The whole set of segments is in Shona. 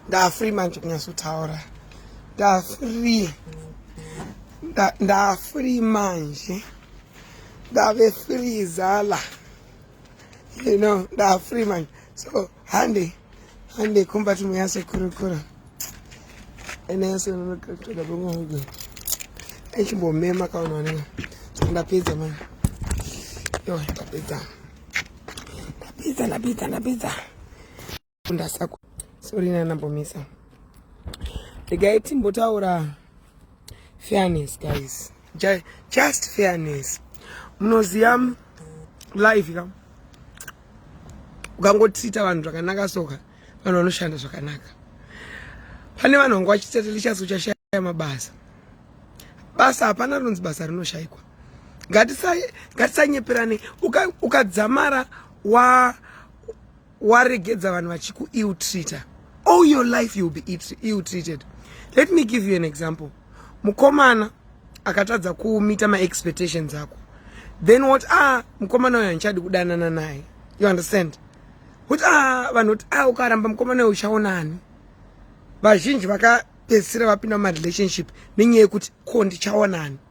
ndafree manje kunyatsotaura ndafree ndafree manje ndave free zala you know nda free man so hande hande kumba tumu yase kurukura ene yase nokatoda bongo hogo echimbo mema kaona wanenga ndapedza man yo ndapedza ndapedza ndapedza ndapedza kufunda sako sori nanambomisa regai timbotaura fairness guys just fairness munoziva life ka ukangotiita vanhu zvakanaka soka vanhu vanoshanda zvakanaka pane vanhu vanga vachitete lichasi uchashaya mabasa basa hapana rinonzi basa rinoshayikwa ngatisanyeperane ukadzamara uka wa waregedza vanhu vachiku ill treater all your life you'll be ill treated let me give you an example mukomana akatadza kumita maexpectations ako then what ah mukomana uyo handichadi kudanana naye you understand kuti ah vanhu kuti ah ukaramba mukomana uyo uchaona ani vazhinji vakapedzisira vapinda mumarelationship nenyaya yekuti ko ndichaona ani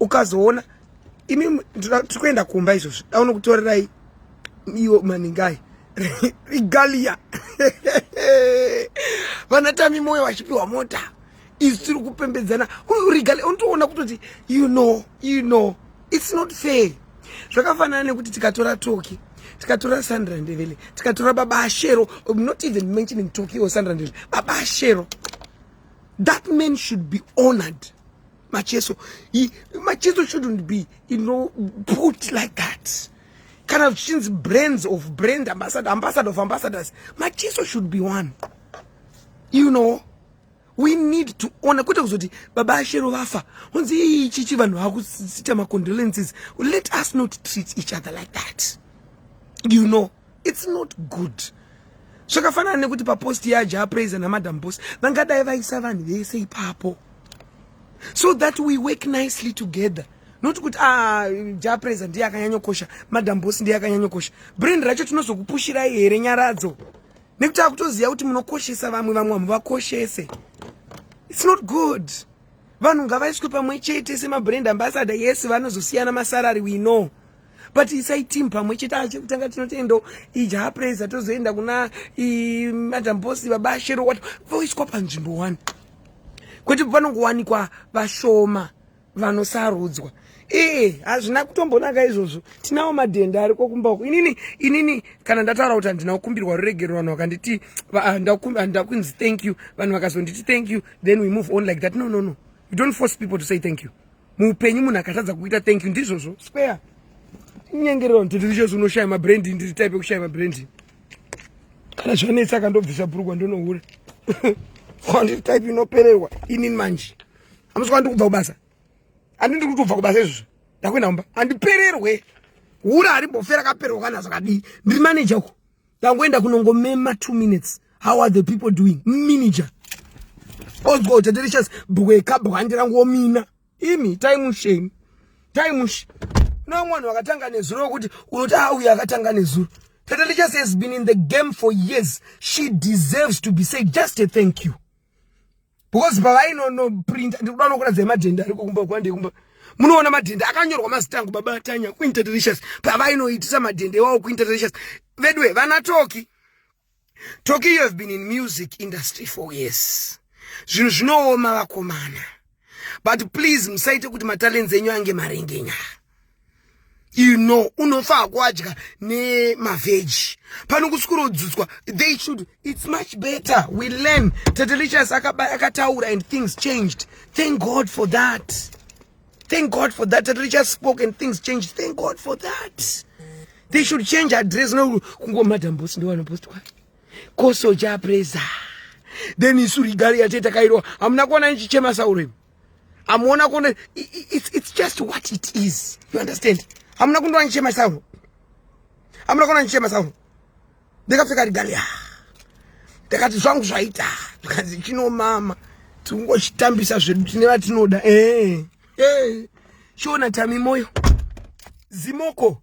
ukazoona imi tiri kuenda kumba izvozvi daona kutorerai iwo maningai regalia vanatami moyo vachipiwa mota isu tiri kupembedzana regalia unotoona kutoti you know you know its not fair zvakafanana nekuti tikatora toki tikatora sandra ndevele tikatora baba ashero um, not even mentioning toki or sandra ndevele baba ashero that man should be honored Macheso, he, Macheso shouldn't be, you know, put like that. Kind of change brands of brand ambassador, ambassador of ambassadors. Macheso should be one. You know, we need to honor kwete kuzoti baba ashero vafa honzi iyi chichi vanhu vakuita macondolences let us not treat each other like that you know it's not good zvakafanana nekuti papost yaja apraise namadam boss vangadai vaisa vanhu vese ipapo so that we work nicely together not kuti ah, ja praise ndiye akanyanyokosha madam boss ndiye akanyanyokosha brand racho tinozokupushirai here nyaradzo nekuti akutoziva kuti munokoshesa vamwe vamwe vamwe vakoshese its not good vanhu ngavaiswe pamwe chete semabrand ambassador yes vanozosiyana masarari we know but isai team pamwe chete achekutanga tinotoendawo ijaha praiser tozoenda kuna madam boss baba shero wat voiswa panzvimbo one kwete panongowanikwa vashoma vanosarudzwa ee hazvina kutombonaka izvozvo tinawo madhenda ariko kumba uku inini inini kana ndataura kuti handina kukumbirwa ruregero vanhu vakanditi handida kunzi thank you vanhu vakazonditi thank you then we move on like that no no no you don't force people to say thank you muupenyu munhu akatadza kuita thank you ndizvozvo square inyengerero nditi ndichose unoshaya mabrand ndiri type yekushaya mabrand kana zvanetsa akandobvisa bhurugwa ndonohura kwandiri type inopererwa inini manje amuswa ndiri kubva kubasa andi ndiri kutobva kubasa izvozvo ndakuenda kumba andipererwe hura harimbofera kapererwa kana zvakadii ndiri manager uko tangoenda kunongomema two minutes how are the people doing miniger ozwa kuti delicious bweka bwandi rangu womina imi taimusheni taimushi no mwanhu wakatanga nezuro wekuti unoti a uyo akatanga nezuro tatalichas has been in the game for years she deserves to be say just a thank you because pavainonoprinta ndikuda nokuratidza yemadhende ariko kumba kwande kumba munoona madhende akanyorwa mazita angu baba tanya kuinterdelicious pavainoitisa madhende iwawo kuinterdelicious veduwe vana toki toki you have been in music industry for years zvinhu zvinooma vakomana but please musaite kuti matalents enyu ange marengenyaya you know unofa kuadya nemavheji pano kusikurodzudzwa they should it's much better we learn tatelichas akataura and things changed thank god for that thank god for that tatelichas spoke and things changed thank god for that they should change address no kungomadambosi ndiwanapostwa kosoja presa then isu rigari yateta kairwa hamuna kuona ichichema sauremu amuona kuona it's, it's just what it is you understand hamuna kundoona ndichema sauro hamuna kuona ndichema sauro ndikapfeka rigali ah. ndakati zvangu zvaita zvikanzi chinomama tikungochitambisa zvedu tine vatinoda ee eh, ee eh. chiona tami moyo zimoko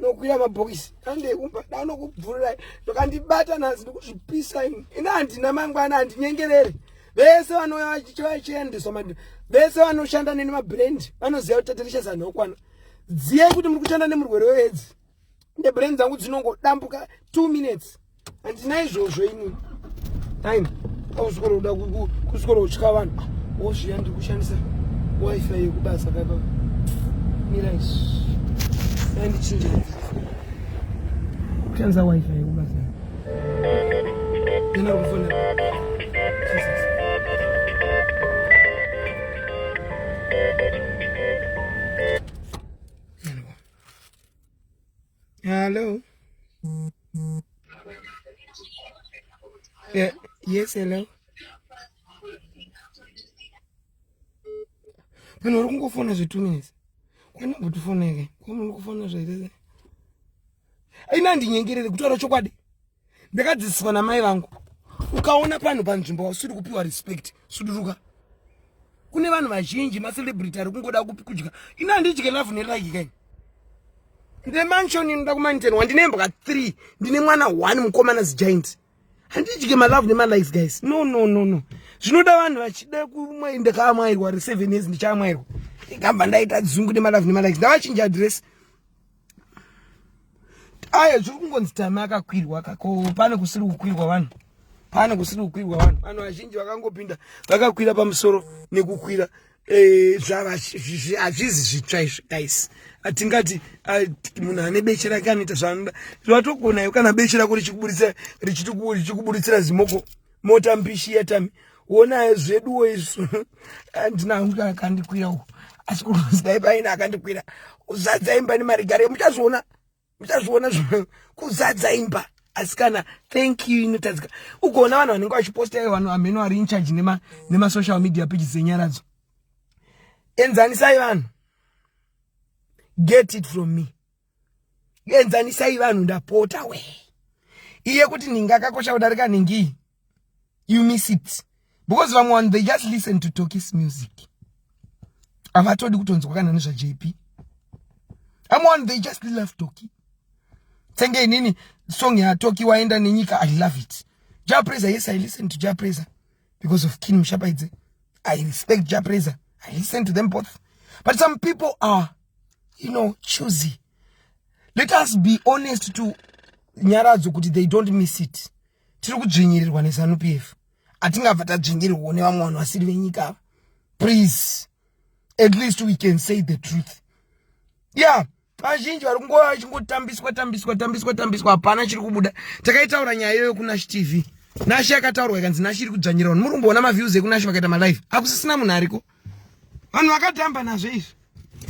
nokuya mabhokisi andeikumba danokubvururai zvakandibata nhasi ndikuzvipisa ini ini handina mangwana handinyengerere vese vanouya vachiendeswa mad vese vanoshanda neni mabrand vanoziva kuti tatirichesa nhokwana dziyai kuti muri kushanda nemurwere weedzi ndebrand dzangu dzinongodambuka two minutes handina izvozvo ini aini ausikona kuda kusikona kutya vanhu ah, wozviya ndiri kushandisa wifi yekubasa kaipa mirai dai ndichinja kushandisa wifi yekubasa ena kufona Hello. Yeah. Yes, hello. Vanhu vari kungofona zvetunesi kwani kutofoneke kwamunhu kufona zvaitese aina ndinyengerere kutaura chokwadi ndakadzidziswa namai vangu ukaona panhu panzvimbo wausiri kupiwa respect suduruka kune vanhu vazhinji macelebrity ari kungoda kupi kudya ino handidye love neraki kai ndine manshon inoda kumaniten wa ndine mbwa three ndine mwana one mukomana zigiant handidye malove nemalife guys no no no no zvinoda vanhu vachida kumwai ndakaamwairwa re seven years ndichaamwairwa ndikabva ndaita dzungu nemalove nemalife ndavachinja adress ayo zviri kungonzi time akakwirwa ka ko pane kusiri kukwirwa vanhu pane kusiri kukwirwa vanhu vanhu vazhinji vakangopinda vakakwira pamusoro nekukwira eh, hazvizi zvitsva izvi guys hatingati ah, munhu ane beche rake anoita zvaanoda zvatogona iwe kana beche rako richikuburitsira richikuburitsira zimoko mota mbishi yetami wonaye zveduwo izvo handina hangu akandikwira uko asi kuzidai paina akandikwira uzadza imba nemarigare muchazviona muchazviona zv kuzadza imba asikana thank you inotadzika ugoona vanhu vanenge vachiposta ivo vanhu amheno ari incharge nemasocial media pages dzenyaradzo enzanisai vanhu get it from me enzanisai vanhu ndapota we iye kuti nhingi akakosha kudarika nhingi you miss it because vamwe vanhu they just listen to tokis music havatodi kutonzwa kana nezvajp amwe vanhu they just love toki senge inini song yatoki waenda nenyika i love it japraiser yes i listen to japraiser because of king mushapaidze i respect japraiser i listen to them both but some people are you know choosy let us be honest to nyaradzo kuti they don't miss it tiri kudzvinyirirwa nezanup f hatingabva tadzvinyirirwawo nevamwe vanhu vasiri venyika ava please at least we can say the truth yeah vazhinji vari kungova vachingotambiswa tambiswa tambiswa tambiswa hapana chiri kubuda takaitaura nyaya iyoyo kunash tv nashi yakataurwa ikanzi nashi iri kudzvanyira vanhu muri kumboona maviews ekunashi vakaita malive akusisina munhu ariko vanhu vakatamba nazvo izvi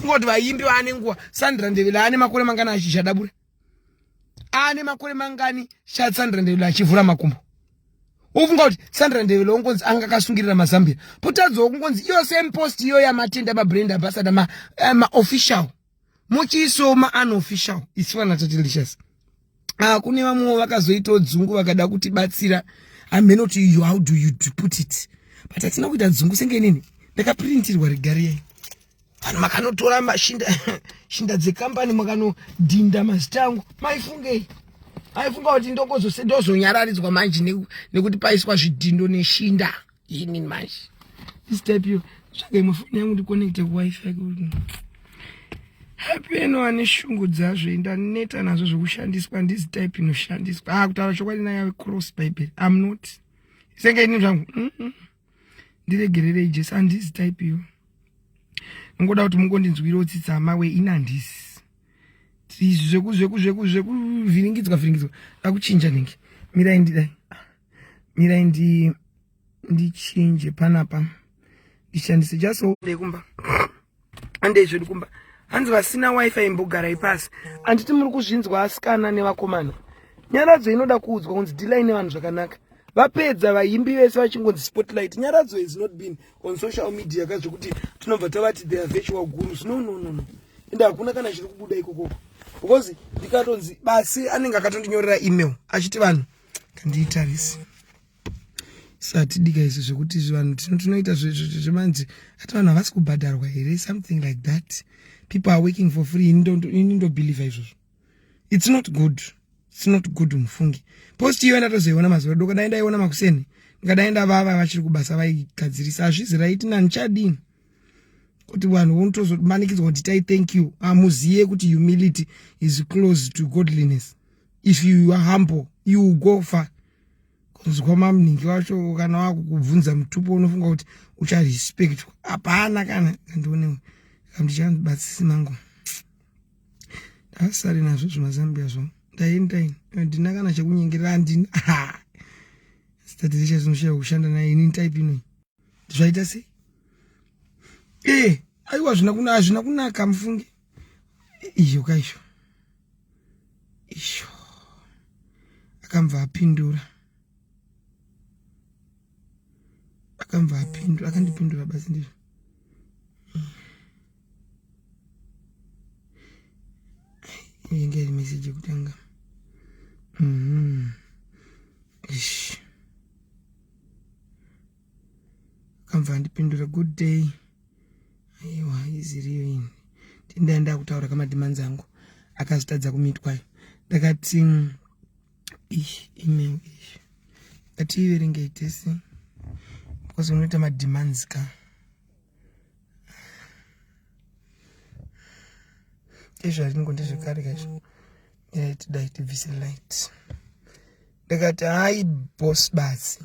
kungoti vaimbi vaane nguva sandra ndevela ane makore mangani achishadabura ane makore mangani sandra ndevela achivhura makumbo ufunga kuti sandra ndevelo ungonzi anga akasungirira mazambia potadzawo kungonzi iyo same post iyo yamatenda mabrand ambassador maofficial ma muchiisawo maunofficial isu vana tatelicious ah, kune vamwewo vakazoitawo dzungu vakada kutibatsira hameno kuti you how do you put it but hatina kuita dzungu senge nini ndakaprintirwa regariyai vanhu makanotora mashinda shinda dzekambani makanodhinda mazita angu maifungei aifunga kuti ndozonyararidzwa manje nekuti paiswa zvidhindo neshinda ini manje this type yo tsvaga imwe foni yangu ndiconnecte kuwifi kuti hapeno ane shungu dzazvo ndaneta nazvo zvekushandiswa ndizi type inoshandiswa ha ah, kutaura chokwadi naya cross bible am not senge ini zvangu ndiregererei jesu andizi type yo nongoda kuti mungondinzwirawo tsitsa hama we ini handisi zvekuvhiringidzwa vhiringidzwa akuchinja nenge mirai ndidai mirai ndi ndichinje panapa ndishandise just kumba ande zvedu kumba hanzi vasina wifi imbogarai pasi handiti muri kuzvinzwa asikana nevakomana nyaradzo inoda kuudzwa kunzi dilai nevanhu zvakanaka vapedza vaimbi vese vachingonzi spotlight nyaradzo has not been on social media ka zvekuti tinobva tavati their virtual gurus no no no no ende hakuna kana chiri kubuda ikokoko because ndikatonzi basi anenge akatondinyorera email achiti vanhu kandiitarise satidika izvi zvekuti vanhu tinoita zvemanzi ati vanhu havasi kubhadharwa here something like that people are working for free ini ndobhilivha izvozvo its not good its not good mufungi post iyo ndatozoiona mazuva doko dai ndaiona makuseni ndingadai ndavava vachiri kubasa vaigadzirisa hazvizi raiti nani chadini kuti vanhu vonotozomanikidzwa kuti tai thank you hamuzive kuti humility is close to godliness if you are humble you will go far kunzwa mamuningi wacho kana wakukubvunza mutupo unofunga kuti ucharespectwa hapana kana kandionewe kamndichandibatsisi mangu ndasari nazvo zvimazambia zvo ndaendaini ndina kana chekunyengerera andina statizisha zinoshaya kushanda naye ini type inoi zvaita sei ee eh, aiwa hazvina kunaka mufunge izvo kaizvo izvo akamva apindura akamva apindura akandipindura basi ndizvo inge iri meseji yekutanga mm -hmm. akamva andipindura good day aiwa iziriyo ini tindai ndakutaura kamadhimanzi angu akazotadza kumitwayo ndakati ish email ish ngatiiverengei tese because unoita mademands ka ezvaringo ndezvekare kaizvo ndinatidai tibvise light ndakati hayi boss basi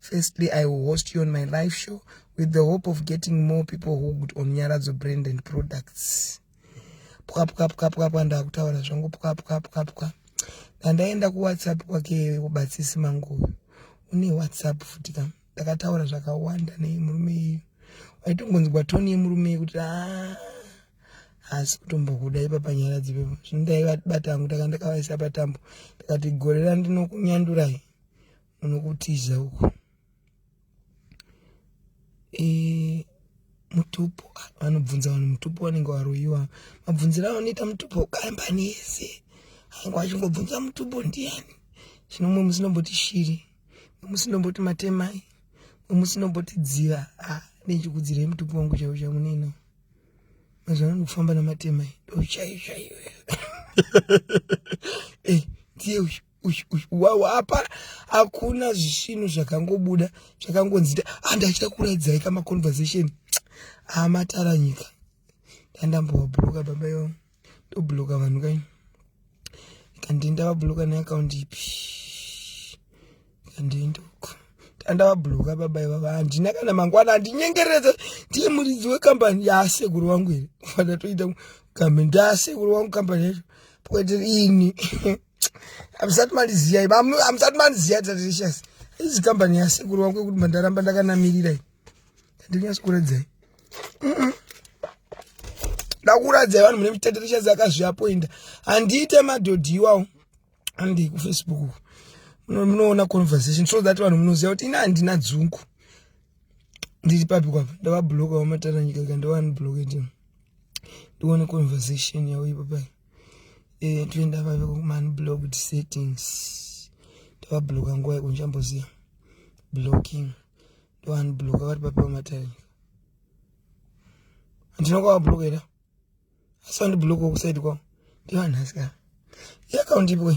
Firstly, I will host you on my live show with the hope of getting more people hooked on Nyaradzo brand and products. Pwa pwa pwa pwa pwa ndakutaura zvangu pwa pwa pwa pwa. Ndandaenda ku WhatsApp kwake kubatsisi mangu. Une WhatsApp futi ka. Ndakataura zvakawanda nei murume iyu. Waitongonzwa tone yemurume iyu kuti ah asi kutombokuda ipa panyaya dzipepo. Zvino ndaiva bata hangu takandakavaisa patambo. Ndakati gorera ndinokunyandurai. unokutiza uko e, mutupo vanobvunza vanhu mutupo vanenge varoyiwa mabvunzira anoita mutupo kambani yese ainge vachingobvunza mutupo ndiani zvino mwe musinomboti shiri mwe musinomboti matemai mwe musinomboti dziva a ah, nechikudzirei mutupo wangu chaiwo chamunena mazuva ano ndikufamba namatemai ndochaichaiwe eh, ndiye uyu wapa hakuna zvisvinu zvakangobuda zvakangonzita handi ah, achida kuraidzai kama conversation amatara ah, nyika dandambowabhuroka baba yo ndobhuroka vanhu kai kandi ndavabhuroka neakaundi ipi kandi ndoko ndandavabhuroka baba ivava handina kana mangwana handinyengereze ndiye muridzi wekambani yaasekuru wangu here fana toita kambani ndaasekuru wangu kambani yacho poeteri ini hamusati mandiziyai hamusati mandiziyai tadelicious izi kambani yasekuru wangu yekuti mandaramba ndakanamirirai ndinyasokuradzai ndakuradzai vanhu mune mitadelicious akazviapoinda handiite madhodhi iwawo andei kufacebook munoona conversation so that vanhu munoziva kuti ini handina dzungu ndiri papi kwapa ndavabloka vamatara nyika ka ndovanibloke ndione conversation yavo ipapai eh, toenda vave kumani blocked settings ndavabloka nguva yeko ndichamboziva blocking ndoanibloka vari papi pamatarika handina kwavabloka ira asi vandibloka kusaidi kwavo ndivanhasika iakaunti ipo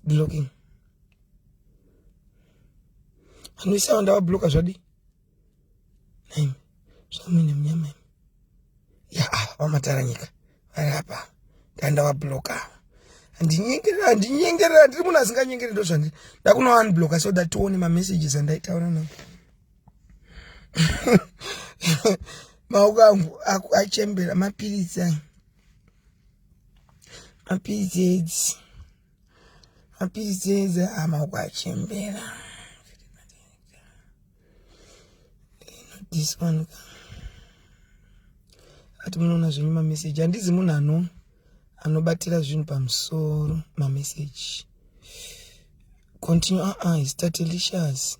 blocking anoisava ndavabloka zvadii Nhaimi, zvamuine munyama imi. Ya, ava vamataranyika vari apa ndandavabloka ava handinyengerera handinyengerera handiri munhu asinganyengere ndo zvandiri ndakunoanbloka so that tione mamessages andaitaura navo maoko angu achembera mapiritsi ayo mapiritsi edzi mapiritsi eze amaoko achembera this one ka ati munoona zvenyu mameseji handizi munhu ano anobatira zvinhu pamusoro mameseji continue aa uh -uh, is tatelicious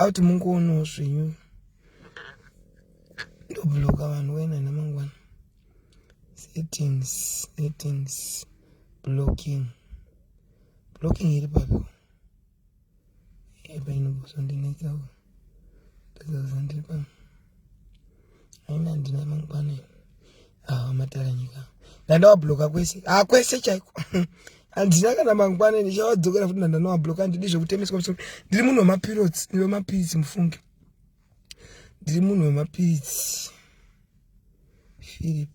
auti mungoonawo zvenyu ndobloka vanhu wena namangwana settings settings blocking blocking iri papi epa inobosondinekawo ndakazandiri pano aina ndina mangwana awa matara nyika ndandawablocka kwese a ah, kwese chaiko handina kana mangwana ndichawadzokera futi ndandanowablocka handidi zvekutemeswa musoro ndiri munhu wemapirots wemapiritsi mufunge ndiri munhu wemapiritsi philip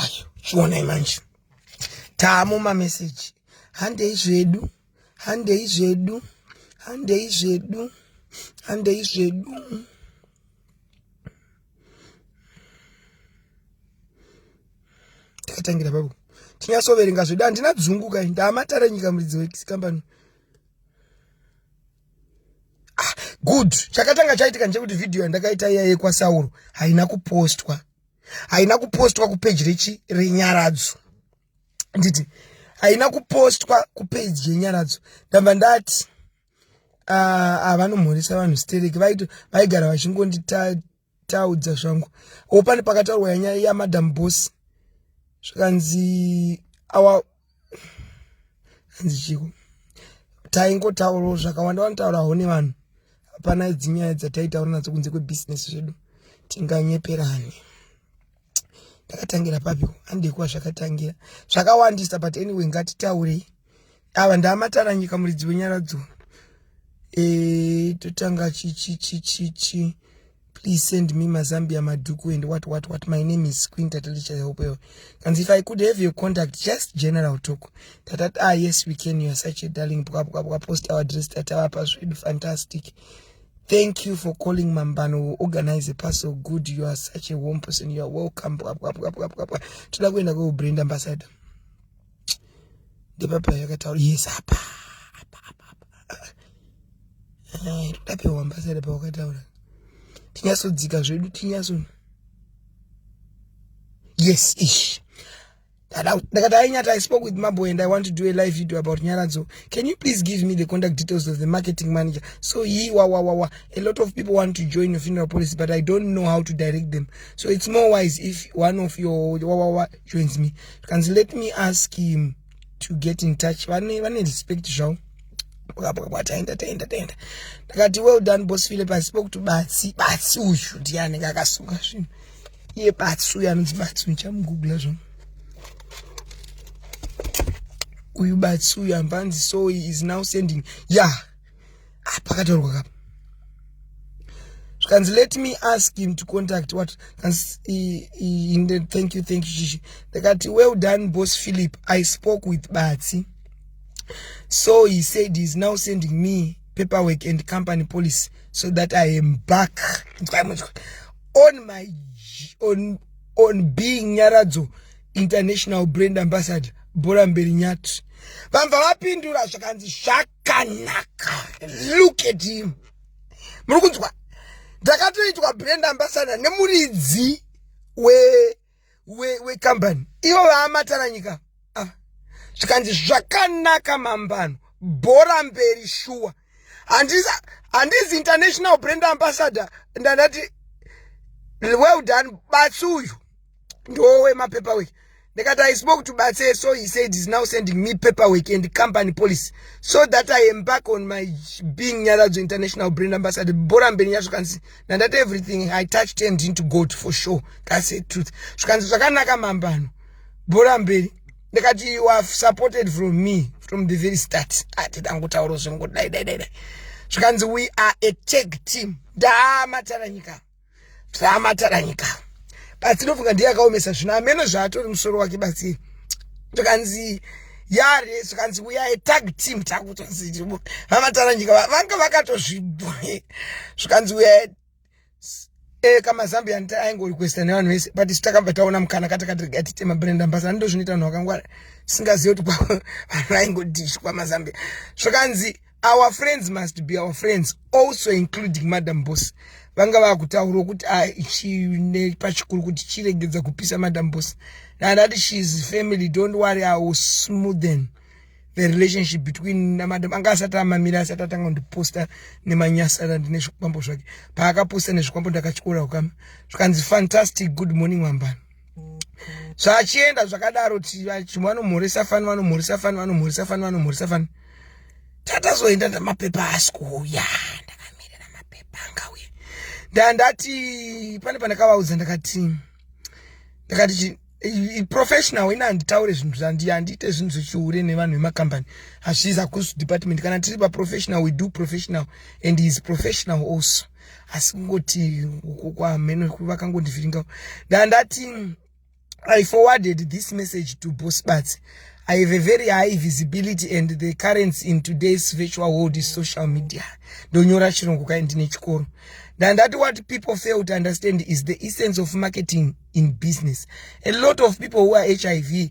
ayo chionai manje tamo mameseji handei zvedu handei zvedu handei zvedu handei zvedu takatangira papo tinyatsoverenga zvedu handina dzungu kai ndaamatare nyika muridzi wekambani ah, good chakatanga chaitika ndechekuti vhidhiyo yandakaita iya yekwasauro haina kupostwa haina kupostwa kupeji rechi renyaradzo nditi haina kupostwa kupeji yenyaradzo ndamba ndati ah, ah, vanomhoresa vanhu stereki vaigara vachingondita taudza zvangu o pane pakataurwa yanyaya yamadam boss zvikanzi awa hanzi chiko taingotaurawo zvakawanda vanotaurawo nevanhu hapana dzinyaya dzataitaura nadzo kunze kwebusiness zvedu tinganyeperani ndakatangira papi andikuwa zvakatangira zvakawandisa but anyway ngatitaurei ava ndaamatara nyika muridzi wenyaradzo e, eh, totanga chichichichichi please send me mazambia madhuku and what what what my name is queen tatalichahopewa kanzi if i could have your contact just general talk tatat ah yes we can youare such a darling bwabwabwa post our dress tatavapa zvedu fantastic Thank you for calling Mambano. We'll organize a parcel. Good. You are such a warm person. You are welcome. Toda kuenda kwa brand ambassador. Ndepapa yakataura yes apa. Eh, toda pe ambassador pa wakataura. Tinyasodzika zvedu tinyaso. Yes ish. ndakati ainyata i spoke with mambo and i want to do a live video about nyaradzo can you please give me the contact details of the marketing manager so he wawawawa a lot of people want to join your funeral policy but i don't know how to direct them so it's more wise if one of your wawawa joins me kanzi let me ask him to get in touch vane vane respect zvavo bwabwabwa taenda taenda taenda ndakati well done boss philip i spoke to batsi batsi uyu ndiye anenge akasunga zvinhu iye batsi uyu anonzi batsi ndichamugugula zvo uyu batsi uyu ambanzi so he is now sending ya yeah. ah, pakataurwa kapa zvikanzi let me ask him to contact what thank you thank you shishi ndakati well done boss philip i spoke with batsi so he said he is now sending me paperwork and company policy so that i am back on my on on being nyaradzo international brand ambassador bhora mberi nyati vamva vapindura zvakanzi zvakanaka look at him muri kunzwa ndakatoitwa brand ambassador nemuridzi we wekambani we ivo vaamatana nyika ah. zvikanzi zvakanaka mambano bhora mberi shuwa handizi international brand ambassador ndandati well done batsi uyu ndowe mapaperwork ndikati i spoke to batse so he said is now sending me paperwork and company policy so that i embark on my being nyaradzo international brand ambassador bhora mberi nyazvo kanzi and that everything i touch turned into gold for sure that's the truth zvikanzi zvakanaka mambano bhora mberi ndikati you have supported from me from the very start ati dangotauro zvengu dai dai dai dai zvikanzi we are a tag team ndamataranyika ndamataranyika but ndinofunga ndiye akaomesa zvino ameno zvaatori musoro wake basi zvikanzi yare zvikanzi uyaye tag team takutonzi vamataranyika vanga vakatozvibwe zvikanzi uyaye eh, kama zambia aingorequesta nevanhu vese but isu takabva taona mukana katakatirega tite mabrand ambasada ndozvinoita vanhu vakangwara singazivi kuti vanhu vaingodishwa mazambia zvikanzi our friends must be our friends also including madam boss vanga vakutaurwa kuti ah, chine pachikuru kuti chiregedza kupisa madam boss nandati shes family don't worry i will smoothen the relationship between namadam anga asati amamira asati atanga kundiposta nemanyasana ndine zvikwambo zvake paakaposta nezvikwambo ndakatyora ukama zvikanzi fantastic good morning wambana zvachienda zvakadaro chimwe vanomhoresa fani vanomhoresa fani vanomhoresa fani vanomhoresa fani tatazoenda ndamapepa asi kuuya ndakamirira mapepa angauye ndandati pane pandakavaudza ndakati ndakati professional ina handitaure zvinhu zvandihandiite zvinhu zvechihure nevanhu vemakambani hazvizi akusu department kana tiri paprofessional we do professional and he is professional also asi kungoti uko kwamheno vakangondivhiringa ndandati i forwarded this message to boss bats i have a very high visibility and the currency in today's virtual world is social media ndonyora chirongo kai ndine chikoro ndandati what people fail to understand is the essence of marketing in business a lot of people who are hiv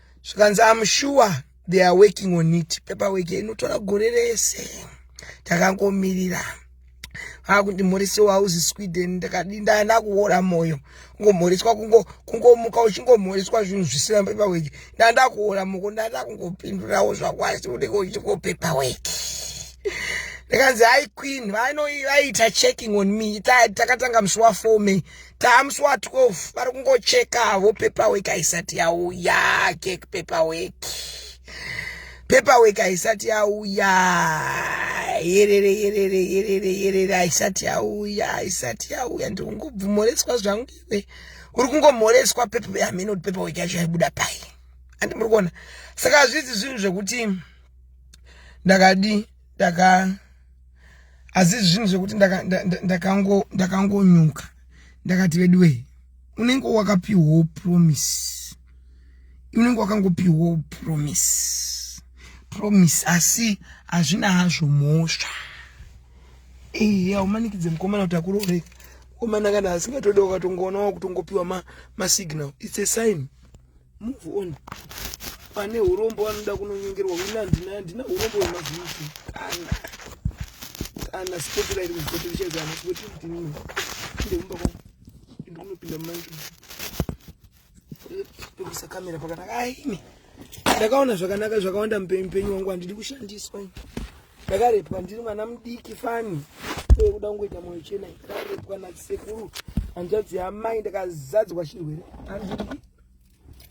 zvikanzi am sure they are working on it paperwork inotora gore rese takangomirira akuti mhorese wauzi sweden ndakadi ndaana kuora mwoyo kungomhoreswa kungomuka uchingomhoreswa zvinhu zvisina paperwork ndaanda kuora moko ndaada kungopindurawo zvakwasi unenge uchingo paperwork ndikanzi hai queen vaiita checking on me takatanga musi wafour may tamusi wa 12 vari kungochekavo paperwork haisati yauya kek paperwork paperwork haisati yauya yerere yerere yerere yerere haisati yauya haisati yauya ndiri kungobvumoreswa zvangu iwe uri kungomhoreswa pepe hameno kuti paperwork yacho yaibuda pai handi muri kuona saka hazvizi zvinhu zvekuti ndakadii ndaka asi zvinhu zvekuti ndakangonyuka ndakati veduwee unenge wakapiwawo promise unenge wakangopiwawo promise promise asi hazvina hazvo mhosva ehe aumanikidze mukomana kuti akurooreka mukomana kana asingatoda ukatongoonawo kutongopiwa masignal its a sign Move on. Pane urombo vanoda kunonyengerwa wina ndina ndina urombo wemazviti. Kana. Kana sipoti rairi muzvoti richagana sipoti ndini. Inde kumba kwa. Inde kunopinda manje. Ndikusa kamera pakanaka. Aini. Ndakaona zvakanaka zvakawanda mupenyu wangu handidi kushandiswa. ndakarepwa ndiri mwana mudiki fani uye kuda kungoita moyo chena ndakarepwa nasekuru hanzvadzi yamai ndakazadzwa chirwere andii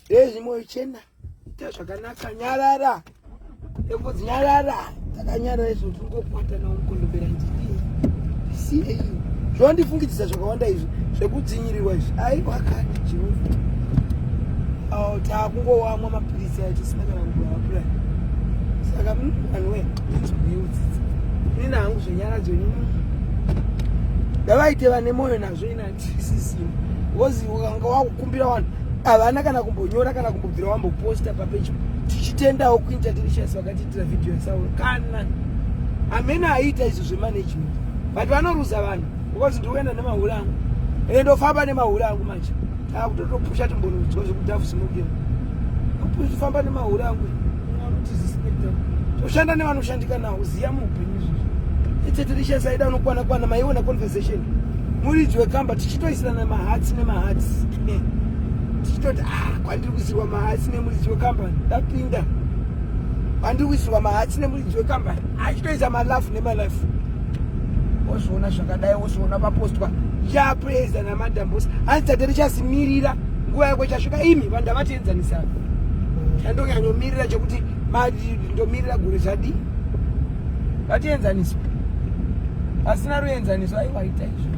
ezvi moyo chena ita zvakanaka nyarara ekodzi nyarara takanyarara izvo tingokwata nawo mukondombera ndidii siei zvondifungidzisa zvakawanda izvi zvekudzinyirirwa izvi aiwakati jehova oh, takungowamwa mapiri davaite vane mwoyo nazvo inatisisim bcause ukanga wakukumbira vanhu havana kana kumbonyora kana kumbobvira wamboposta papecho tichitendawo kuinterdelicious vakatiitira vhidhiyo yasauro kana amene aiita izvo zvemanagement but vanoruza vanhu because ndikuenda nemahure angu ende ndofamba nemahure angu manje akutotopusha timbonoudzwa zvekudhafu smoking kufamba nemahure angu toshanda nevanoshandika nawo ziya muupenyu izvozvo itetirishas aida unokwana kwana maiona conversation muridzi wekamba tichitoisirana mahatsi nemahatsi tichitoti ah, kwandiri kuisirwa mahatsi nemuridzi wekambani ndapinda kwandiri kuisirwa mahatsi nemuridzi wekambani achitoisa malafu nemalafu wozviona zvakadai wozviona vapostwa yapreza namadambosi hanzi tate richazimirira nguva yako ichasvika imi vanhu ndavatienzanisana andonyanyomirira chekuti ndomirira gore zvadii vatienzaniswa asina ruenzaniso aiwaita izvo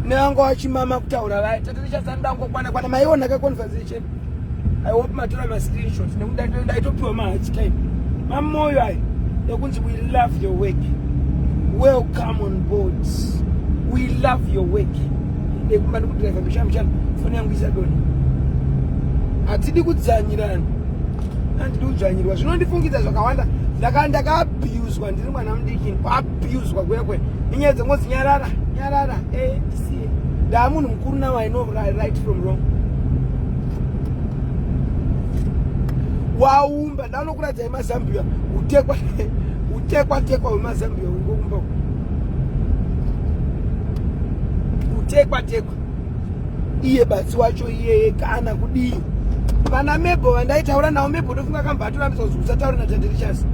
nevango vachimama kutaura vaya tate richazandango kwana kwana maiona kaconversation I hope matora ma screenshots nekuda ndaitopiwa ma hard time mamoyo ayo ekunzi we love your work welcome on board we love your work ekumba ndikudriva mishana mishana foni yangu isadona hatidi kudzanyirana andidi kudzvanyirwa zvinondifungidza zvakawanda ndaka ndakaabhiyuzwa ndiri mwana mudikini abuswa kuya kwe inyaya dzengozi nyarara nyarara eh tisiye ndaa munhu mukuru now i know right from wrong waumba ndanokuradzai mazambia utekwa utekwa tekwa wemazambia ungoumba utekwa tekwa iye batsi wacho iyeye kana kudii vana mebo vandaitaura navo mebo ndofunga akambva atorambiswa kuti usataure natande richards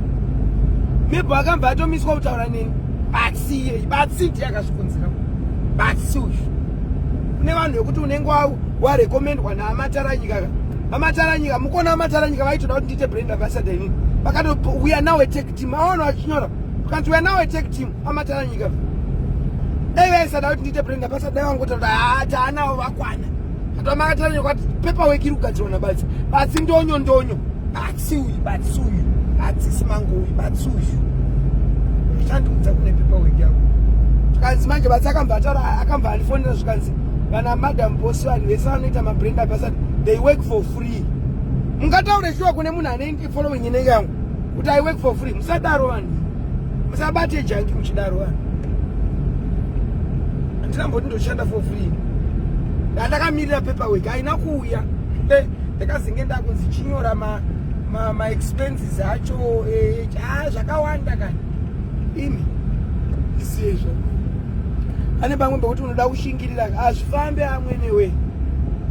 mebo akambva atomiswa kutaura neni batsi iyeye batsi ndiye akazvikonzera batsi uyu kune vanhu vekuti unenge warekomendwa naamataranyika amataranyika mukona amataranyika vaitoda kuti ndiite brand ambassador inini vakatouya nawe timaono achinyora kanti we're now a tech team amatara nyika dai vaisada kuti ndiite brenda basa dai vangotaura haa taanawo vakwana katova makatara nyika kuti pepa weki iri kugadzirwa nabatsi batsi ndonyo ndonyo batsi uyu batsi uyu batsi simango uyu batsi uyu chandikudza kune pepa weki yavo zvikanzi manje batsi akambva ataura akambva andifonera zvikanzi vana madam bosi vanhu vese vanoita mabrenda basa they work for free mungataure shuwa kune munhu ane following inenge yangu kuti i work for free musadaro vanhu musabate janki muchidaro vanhu handina mboti ndoshanda for free ndandakamirira paper work haina kuuya eh, ndakazenge ndakunzi chinyora ma maexpenses ma acho eh, ah, zvakawanda kani imi isiyezvo ane pamwe pekuti unoda kushinga hazvifambe amwenewe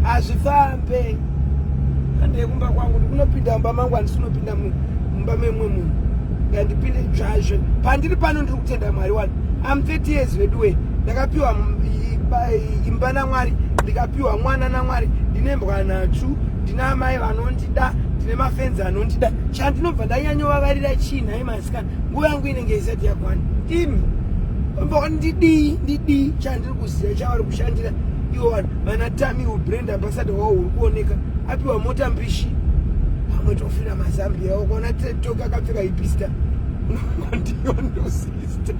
hazvifambe handei kumba kwangu ndikunopinda mumba mangu handisi kunopinda mumba memwe munhu ngandipinde dzvazve pandiri pano ndiri kutenda mwari wani am 30 years veduwe ndakapiwa imba namwari ndikapiwa mwana namwari ndine mbwa nhatsvu ndine amai vanondida ndine mafenzi anondida chandinobva ndanyanyovavarira chii nhai masikana nguva yangu inenge isati yakwana imi pambakwani ndidii ndidii chandiri kuziva chavari kushandira ivo vanhu vana tami ubrand ambasada wavo uri kuoneka apiwa mota mbishi pamwe tofira mazambi yavo kuona toka akapfeka ipista unongondiyondo sister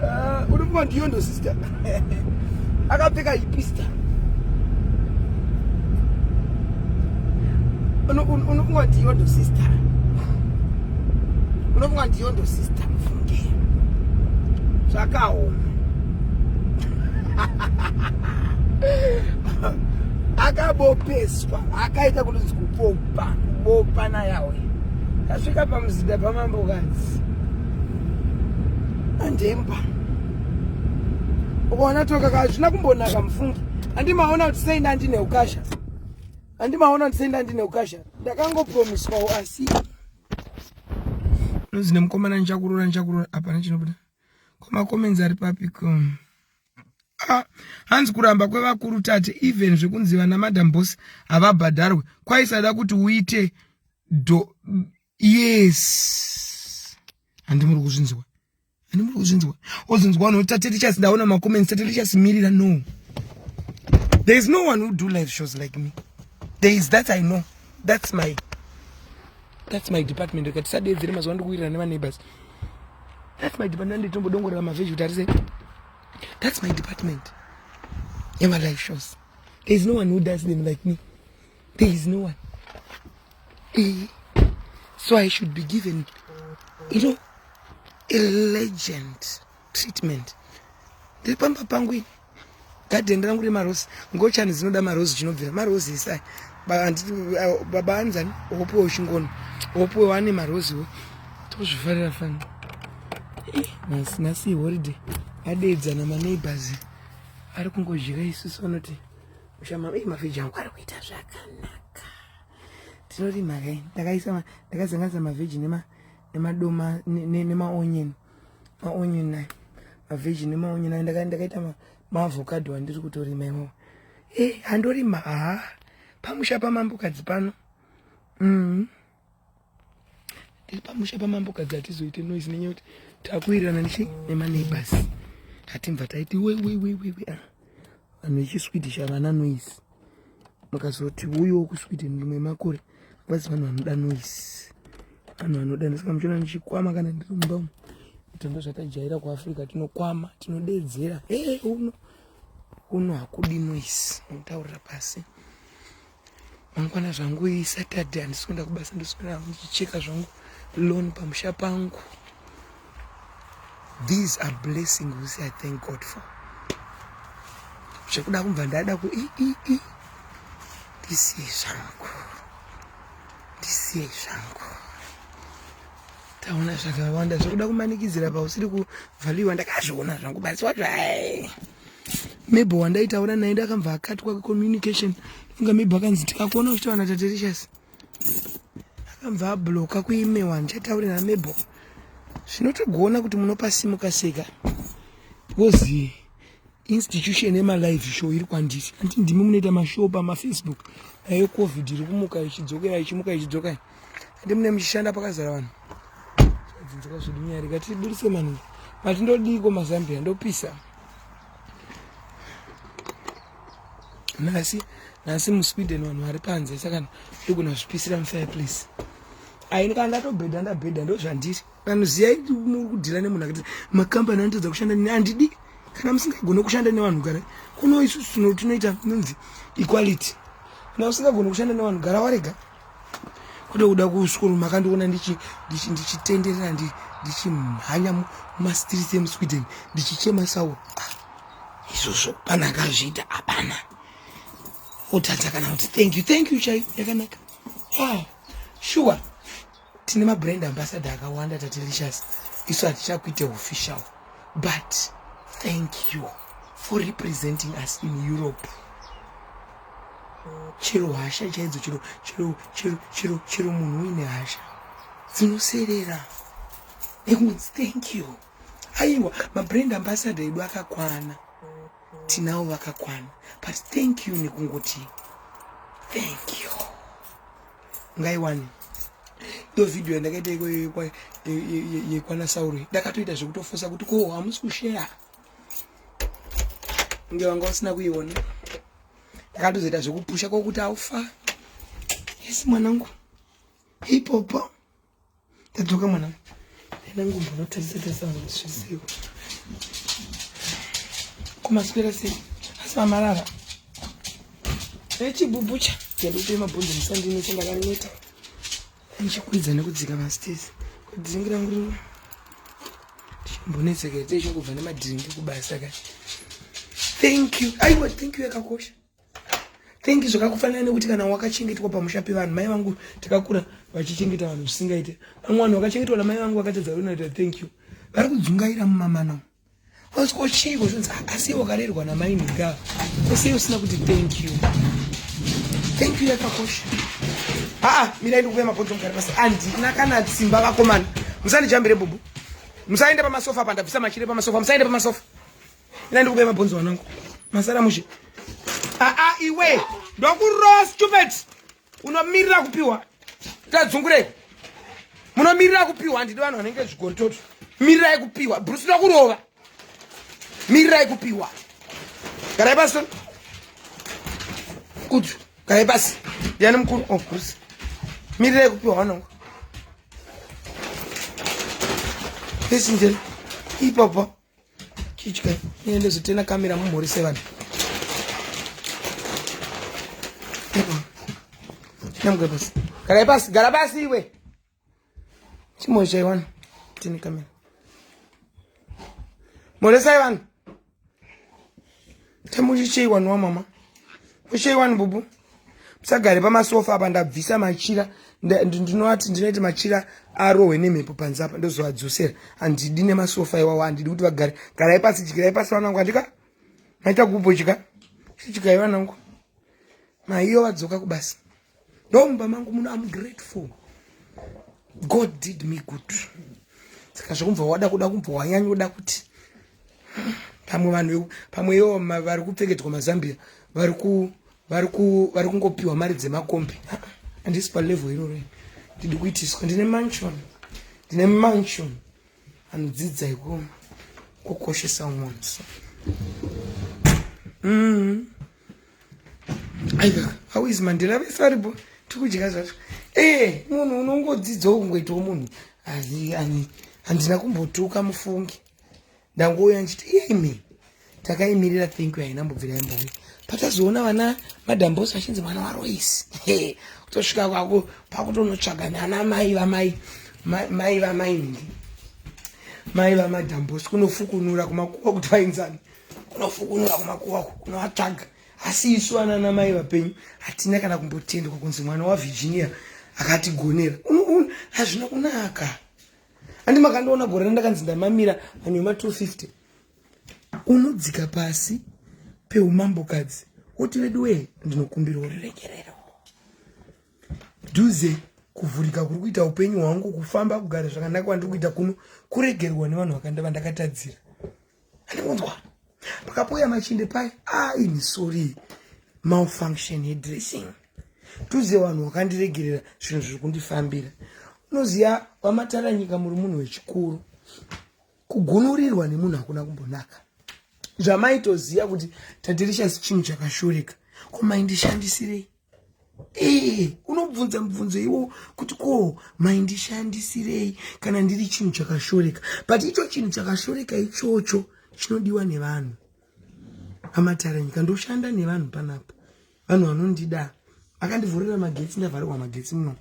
ah, unongondiyondo sister akapfeka ipista unofunga kuti yondo sister unofunga kuti yondo sister mufunge zvakaoma akabopeswa akaita kuti zikupopa kubopa nayawe tasvika pamuzinda pamambokanzi andemba ukaona toka hazvina kumbonaka mufungi handimaona kuti sei ndandine ukasha handimaona kuti sei ndandine ukasha ndakangopromiswawo asi nozi nemukomana ndichakurora ndichakurora hapana chinobuda komakomenzi ari papiko ah, hanzi kuramba kwevakuru tate even zvekunzi vana madam bos havabhadharwe kwaisada kuti uite do yes handimuri kuzvinziwa ini muri kuzvinzwa ozvinzwa vanhu voti tatichas ndaona macomments tatichas mirira no there is no one who do live shows like me there is that i know that's my that's my department reka tisadeedzere mazuva ndikuwirira nevaneighbors that's my department anditombodongorera mavhezhi kuti arise that's my department yemalive shows there is no one who does them like me There is no one. Eh. So I should be given, you know, a legend treatment. Ndiri pamba pangu ini. Garden rangu rema rose. Ngochani dzinoda ma rose chinobvira. Ma rose isai. Baba anzani opuwa ushingono. Opuwa wane ma rose wo. Tozvifarira fanga. Eh, nasi nasi holiday. Adedza na ma neighbors. Ari kungodya isusu vanoti. Ushama eh mavhiji angu ari kuita zvakanaka. Tinorima kai. Ndakaisa ndakazanganisa mavhiji nema nemadoma nema onion. Ma onion nayo. Mavhiji nema onion nayo ndaka ndakaita ma, ma avocado andiri kutorima iwo. Eh handorima ah. Pamusha pamambokadzi pano. Mhm. Mm tiri pamusha pamambo kadzi hatizoite noise nenyaya kuti takuwirirana nechi nemaneighbors hatimva taiti wewewewewe ah, vanhu vechiswidi chavana noise mukazoti uyowo kuswidi ndimwe makore vazi vanhu vanoda noise vanhu vanoda ndisika muchiona ndichikwama kana ndiri mumba umu itondo zvatajaira kuafrica tinokwama tinodeedzera e uno uno hakudi noise nokutaurira pasi mangwana zvangu isaturday handisi kuenda kubasa ndiswera hangu ndichicheka zvangu loan pamusha pangu these are blessing whos i thank god for zvekuda kubva ndada ku i i i ndisiye zvangu ndisiye zvangu taona zvakawanda zvekuda kumanikidzira pausiri kuvhaliwa ndakazviona zvangu basi wazvai maybe wandaitaura naye ndakambva akatwa kucommunication funga maybe akanzi tikakuona uchitaura natatericious akambva abloka kuime wani chataure namebo zvinotogona kuti munopasimuka seka because institution yemalive show iri kwandisi anti ndimi munoita mashow pamafacebook nayo covid iri kumuka ichidzokera ichimuka ichidzokai ndi mune muchishanda pakazara vanhu dzinzoka zvedu nyaya rega tiburise manu but ndodiiko mazambia ndopisa nhasi nhasi musweden vanhu vari panze saka ndogona zvipisira mufireplace aini kana ndatobhedha ndabhedha ndozvandiri vanhu ziyai muri kudhira nemunhu akati makambani anotadza kushanda nini andidi kana musingagone kushanda nevanhu gara kuno isusu tinoita nonzi equality kana usingagone kushanda nevanhu gara warega kwete kuda kusukuru makandiona ndichitenderera ndichimhanya mumastreets emusweden ndichichema sawo ah, izvozvo pana akazviita hapana otadza kana kuti thank you thank you chai yakanaka ah, shuwa tine mabrand ambassador akawanda tatelicious isu hatichakuite official but thank you for representing us in europe chero hasha chaidzo chero chero chero chero chero munhu uine hasha dzinoserera nekunzi thank you aiwa mabrand ambassador edu akakwana tinawo vakakwana but thank you nekungoti thank you ngaiwani ndo vhidhiyo yandakaita yekwana sauro ndakatoita zvekutofosa kuti ko hamusi kusheya kunge wanga usina kuiona ndakatozoita zvekupusha kwokuti aufa yes mwanangu ipopo tadzoka mwanangu enangu mbonotarisa tarisa vanhu vasvisiwo kumaswera sei asi vamarara echibubucha ndandikutoima bhonzo musandinese ndakaneta ndichikwidza nekudzika mastesi kudzingira nguva ndichimbonetseka ite ichingobva nemadhiringi kubasa ka thank you aiwa thank you yakakosha thank you zvakakufanira nekuti kana wakachengetwa pamusha pevanhu mai vangu takakura vachichengeta vanhu zvisingaite vamwe vanhu vakachengetwa namai vangu vakatadza kunoita thank you vari kudzungaira mumamana Vanoti ko chii kuzvinzi asi wakarerwa namai nhinga ese usina kuti thank you. Thank you yakakosha. Haa mirai ndikuuya mabhonzo mugare pasi handina kana simba vakomana musandijambire bubu musaende pamasofa apa ndabvisa machire pamasofa musaende pamasofa ina ndikuuya mabhonzo wanangu masara mushe aa iwe ndokuroa stupid unomirira kupiwa tadzungurei munomirira kupiwa handidi vanhu vanenge zvigoritoto mirirai kupiwa bruce ndakurova mirirai kupiwa garai pasi kudzu garai pasi ndiani mukuru o oh, bruce mirirai kupiwa vanongo pesi njeri ipapa chitya niende zvitena kamera mumhuri sevana namgwe pasi gara pasi gara pasi iwe chimwe chaiwana tini kamera mhoresai vanhu temuchicheiwaniwa mama mucheiwani bubu musagare pamasofa apa ndabvisa machira ndinovati ndinoita machira arohwe nemhepo panze apa ndozoadzosera handidi nemasofa iwawo handidi kuti vagare garai pasi dyirai pasi vanangu handika maita kupo chika chichikai vanangu maiyo vadzoka kubasa ndomumba mangu muno am grateful god did me good saka zvekumva wada kuda kumva wanyanyoda kuti pamwe vanhu pamwe iwo vari kupfekedzwa mazambia vari ku vari ku vari kungopiwa mari dzemakombi andisi palevel iroro ndidi kuitiswa ndine mansion ndine mansion anodzidza iko kukoshesa umwe so mm -hmm. aiwa how is mandela vese varipo tikudya zvacho ee munhu unongodzidzawo kungoitawo munhu handina kumbotuka mufungi ndangouya ndichiti imi takaimirira think you haina mbobvira yambouya patazoona vana madambosi vachinzi mwana waroisi kutosvika kwako pakutonotsvaga nana mai vamai mai vamai nhingi mai vamadambosi kunofukunura kumakuwa kuti vainzani kunofukunura kumakuva uku kunovatsvaga asi isu ana ana mai vapenyu hatina kana kumbotendwa kunzi mwana wavirginia akatigonera hazvina kunaka handi makandiona gore randakanzi ndamamira manyuma 250 unodzika pasi peumambokadzi woti vedu wee ndinokumbira uriregerero dhuze kuvhurika kuri kuita upenyu hwangu kufamba kugara zvakanaka kwandiri kuita kuno kuregerwa nevanhu vakandava ndakatadzira andikunzwa pakapouya machinde paye aini ah, sorry malfunction yedressing tuze vanhu vakandiregerera zvinhu zviri kundifambira unoziva vamataranyika muri munhu wechikuru kugunurirwa nemunhu hakuna kumbonaka zvamaitoziva kuti tadirishasi chinhu chakashoreka komaindishandisirei ee unobvunza mubvunzo iwo kuti ko maindishandisirei kana ndiri chinhu chakashoreka but icho chinhu chakashoreka ichocho chinodiwa nevanhu amataranyika ndoshanda nevanhu panapa vanhu vanondida vakandivhurira magetsi ndavharirwa magetsi muno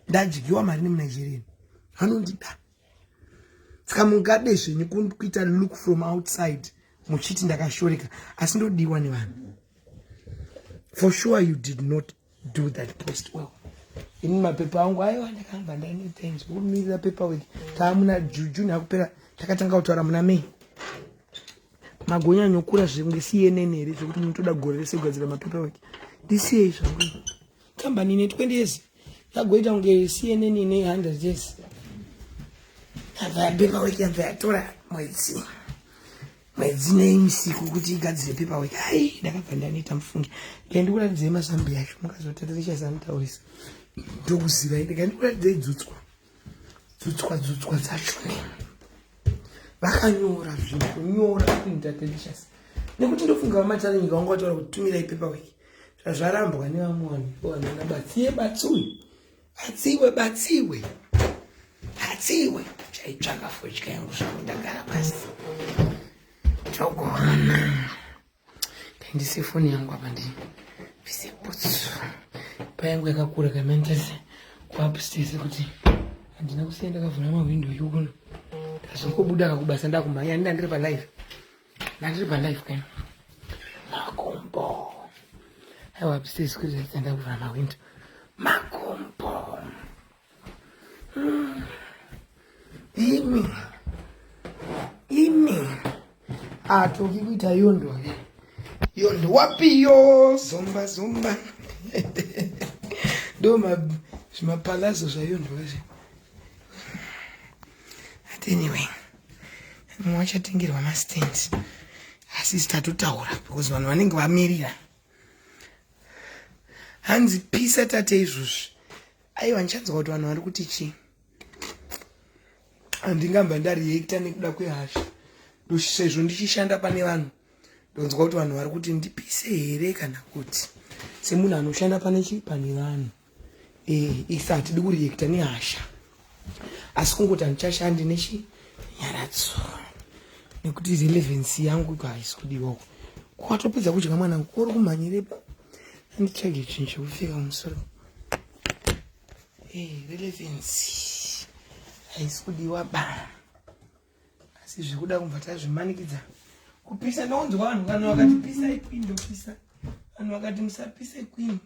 ndadyiwa mari nemunigeria vanondida saka mungade zvenyu kuita look from outside muchiti ndakashoreka asi ndodiwa nevanhu for sure you did not do that post well ini mapepa angu aiwa ndakamba ndaine things kumirira pepa wek taamuna juju nakupera takatanga kutaura muna mei magonyanyokura zvinge cnn here zvekuti munotoda gore rese kugadzira mapepa wek ndisiyei zvangu kambani ine 20 years yagoita kunge cnn ine 100 years yabva yapepa weki yabva yatora mwedzi mwedzi neimisiku kuti igadzire pepa weki ai ndakabva ndanoita mufungi ndikandikuradzidzei mazambi yacho mukazotatirishasanitaurisa ndokuzivai ndikandikuradzidzei dzutswa dzutswa dzutswa dzacho ne vakanyora zvinhu kunyora kuita tendishasi nekuti ndofunga vamatarenyika vanga vataura kuti tumirai pepa weki zvazvarambwa nevamwe vanhu vanana batsiye batsuyu batsiwe batsiwe batsiwe chaitsvaka fodya yangu zvangu ndagara pasi togohana kaindise foni yangu apa ndi bvise butsu payangu yakakura kamaendese kuapstese kuti handina kusiya ndakavhura mahwindo yukuno ndazongobuda kakubasa ndakumhanya ndandiri palive Nandiri pa live kani. Makumbo. Aiwa upstairs kuti ndakutenda kuvhara mawindow. Makumbo. Mm. Imi. Imi. Atoki kuita yondo ke. Yondo wapi yo zomba zomba. Ndo ma zvimapalazo zvayondo kazhe. But anyway. vachatengerwa mastand asi tatotaura because vanhu vanenge vamirira hanzi pisa tate izvozvi aiwa ndichanzwa kuti vanhu vari kuti chii handingamba ndariekta nekuda kwehasha sezvo ndichishanda pane vanhu ndonzwa kuti vanhu vari kuti ndipise here kana kuti semunhu anoshanda pane chii pane vanhu Eh, isa hatidi kureacta nehasha asi kungoti handichashandi nechinyaradzo nekuti relevancy yangu iko haisi kudiwako kwatopedza kudya mwana wangu kori kumhanyirepa anditsvage chinhu chekupfeka musoro eh, relevancy haisi kudiwa ba asi zvekuda kumva tazvimanikidza kupisa ndaunzwa vanhu kana vakatipisa ikwini ndopisa vanhu vakati musapisa ikwini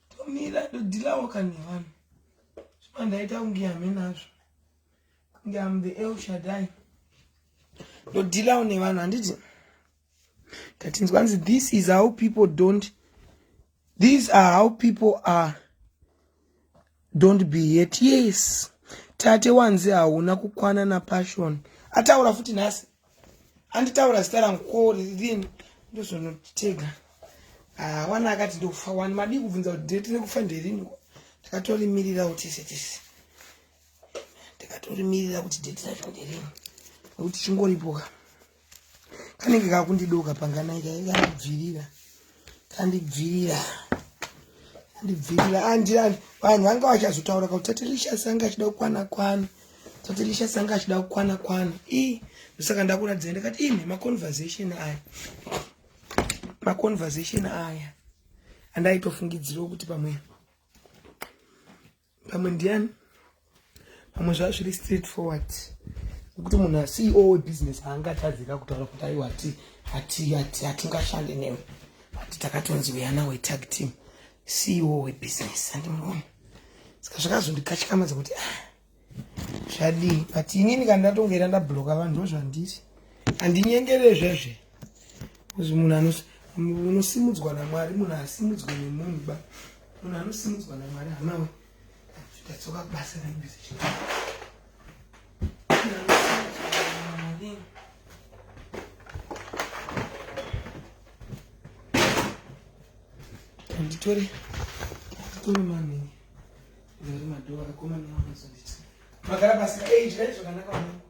tomira todhilawo kani vanhu zvima ndaita kunge hame nazvo kunge am the el shadai ndodhilawo nevanhu handiti ndatinzwa nzi this is how people don't these are how people are don't be yet yes tate wanzi hauna kukwana napassion ataura futi nhasi anditaura zita rangu ko ririni ndozonotega ah, wana akati ndokufa wani madii kubvunza kuti date rekufa nderini ndakatorimiriraa kuti tese tese ndakatorimirira kuti date racho nderini nekuti chingoripoka kanenge kakundidoka panganai kakandidzvirira kandidzvirira ndidzirira andirani vanhu vanga vachazotaura kuti tatirisha sanga achida kukwana kwana tatirisha sanga achida kukwana kwana i ndosaka ndakuradzira ndakati imi maconversation aya maconversation aya andaitofungidzirawo kuti pamwe pamwe ndiyani pamwe zvava zviri straight forward nekuti munhu aceo webusiness haangatadzika kutaura kuti aiwa ati ati ati hatingashande newe ati takatonzi weyana wetag team ceo webusiness andimuoni saka zvakazondikatyamadza kuti ah, zvadii but inini kana ndatongera ndabloka vanhu ndozvandiri handinyengerezvezve Izvi munhu anos unosimudzwa naMwari munhu asimudzwe nemunhu ba munhu anosimudzwa naMwari hama we tatsoka kubasa naibhizi chii nditore nditore manini nditore madhova akomana anozonditi magara pasi eidyai zvakanaka mwanangu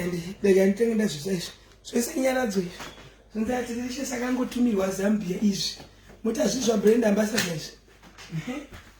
and rega nditenge ndazvisa izvi zvese inyaradzo izvi zvinzatirishe sakangotumirwa zambia izvi motazvizva brand ambassador izvi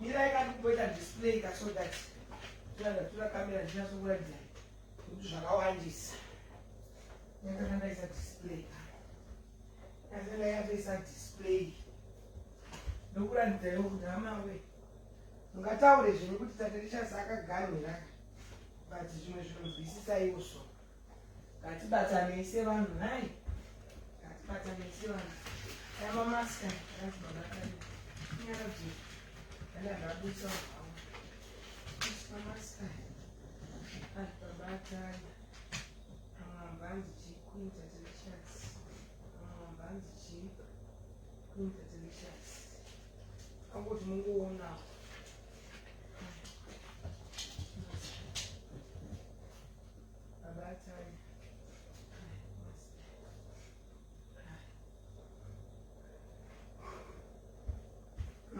mirai kati kumboita display ka so that tiratura kamera ndinyasokuratidza kuti zvakawandisa ndakanga ndaisa display ndakanga yatoisa display ndokuratidzaiwo kuti hamawe ungataure zvinhu kuti tate richasi akaganhira but zvimwe zvinonzwisisaiwo so Ngatibatanei sevanhu nhai. Ngatibatanei sevanhu. Aya mamaska akazvibabataria. Nyara bvi. Kana zvabusa hawo. Mamaska akazvibabataria. Amambanzi chikuita delicious. Amambanzi chikuita delicious. Angoti mungoonawo.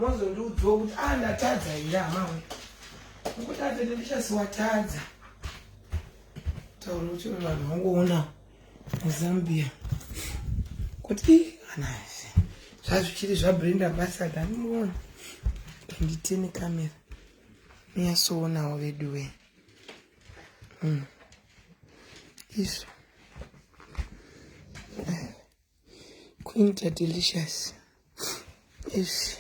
mozondiudziwo kuti a ah, ndatadza here hamawe ukutadza nekuchasi watadza taura kuti vanhu vangoona muzambia kuti anazve zvazvichiri zvabrand ambassador anoona nditene kamera miyasoonawo veduwee Mm. Isu. Quinta delicious. Isu.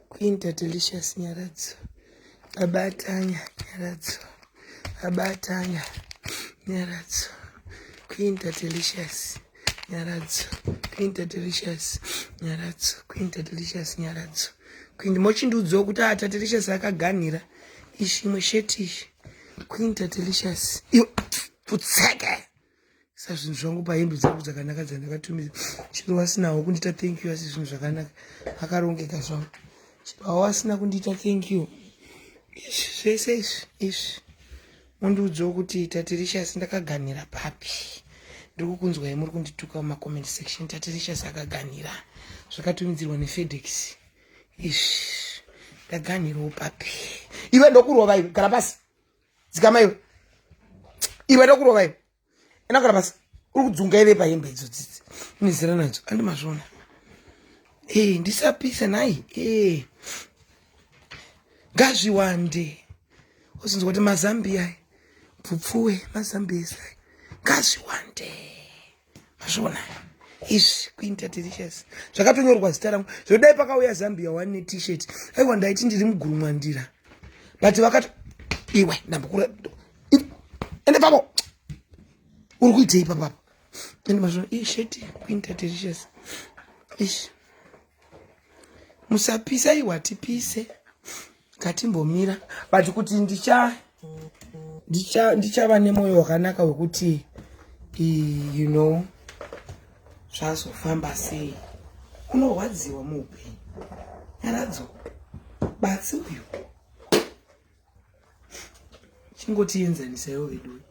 Quinta delicious nyaradzo. Abatanya nyaradzo. Abatanya nyaradzo. Quinta delicious. nyaradzo queen tatiricious nyaradzo queen tatiricious nyaradzo queen mochindiudzawo kuti ah tatiricious akaganhira ishi imwe sheti ishi queen tatiricious iyo putseke sa zvinhu zvangu pahembe dzangu dzakanaka dzandakatumira chero wasinawo kundiita thank you asi zvinhu zvakanaka akarongeka zvangu chero awasina kundiita thank you izvi zvese izvi izvi Mundiudzewo kuti Tatiricious ndakaganhira papi? Ndiri kukunzwai muri kundituka mumacoment section. Tatiricious akaganhira zvakatumidzirwa neFedex. Ish, ndaganhirawo papi? Iwe ndokurova iwe, gara pasi. Dzikama iwe. Iwe ndokurova iwe. enda kana basa uri kudzunga ive pahembe idzo dzidzi unezera nadzo andi mazvona ee ndisapisa nhai ee ngazviwande ozinzwa kuti mazambiya bvupfuwe mazambiya esai ngazviwande mazvona izvi kuinterdelicious zvakatonyorwa zita rangu zvodai pakauya zambia one netishet aiwa ndaiti ndiri mugurumwandira but vakati iwe ndambokura ende pavo uri kuitei papapo ende mazvino ii sheti kuinta delicious ish musapisa iwa tipise ngatimbomira but kuti ndicha ndichava nemoyo wakanaka wekuti you know zvazofamba sei unorwadziwa muupenyu nyaradzo batsi uyu chingotienzanisaiwo vedu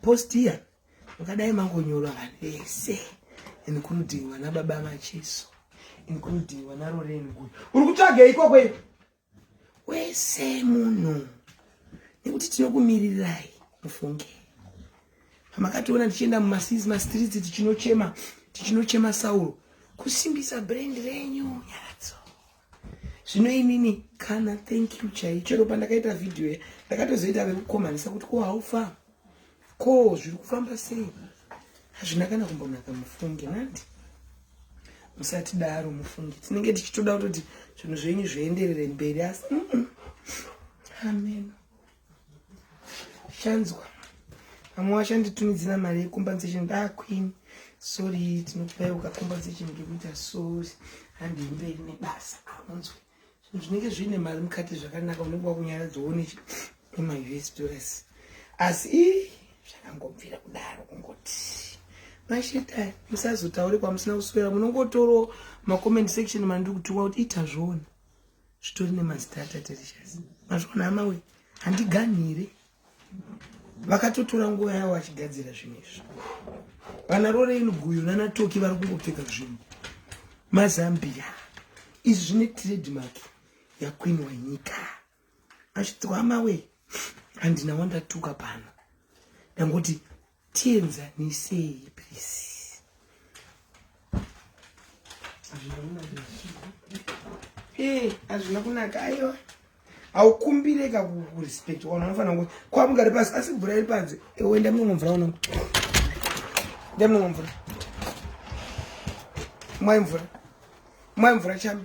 post iya makadai mangonyorwa vanhu vese including vana baba macheso including vana roreni guyo uri kutsvagei ikoko iyo wese munhu nekuti tinokumirirai mufunge pamakationa tichienda mumasizi mastreets tichinochema tichinochema sauro kusimbisa brand renyu nyaradzo zvino inini kana thank you chai chero pandakaita vhidhiyo ndakatozoita vekukomanisa kuti ko haufa ko zviri kufamba sei hazvina kana kumbonaka mufunge nandi musati daro mufunge tinenge tichitoda kutoti zvinhu zvenyu zvienderere mberi asi ameno chanzwa vamwe vachanditumidzira mari yecompensation da ah, queen sorry tinokupai ukacompensation ngekuita sorry handii mberi nebasa aunzwe ah, zvinenge zviine mari mukati zvakanaka unenge wakunyaradzwa one ema us dollars asi ii zvakangobvira kudaro kungoti mashita musazotaure kwamusina kuswera munongotoro macomment section mandiri kutiwa kuti ita zvona zvitori nemazita atatelicious mazvona hama we handiganhire vakatotora nguva yavo vachigadzira zvinhu izvi vana rorein guyo nanatoki vari kungopfeka zvinhu mazambia izvi zvine trademark yakwini wenyika achitwama we handina wandatuka pano ndangoti tienzanisei please ee hazvina kunaka aiwa haukumbire ka kurespect ona unofanira kuti kwamugari pasi asi mvura iri panze ewe ndamunonga mvura ona ndamunonga mvura mwai mvura mwai mvura chami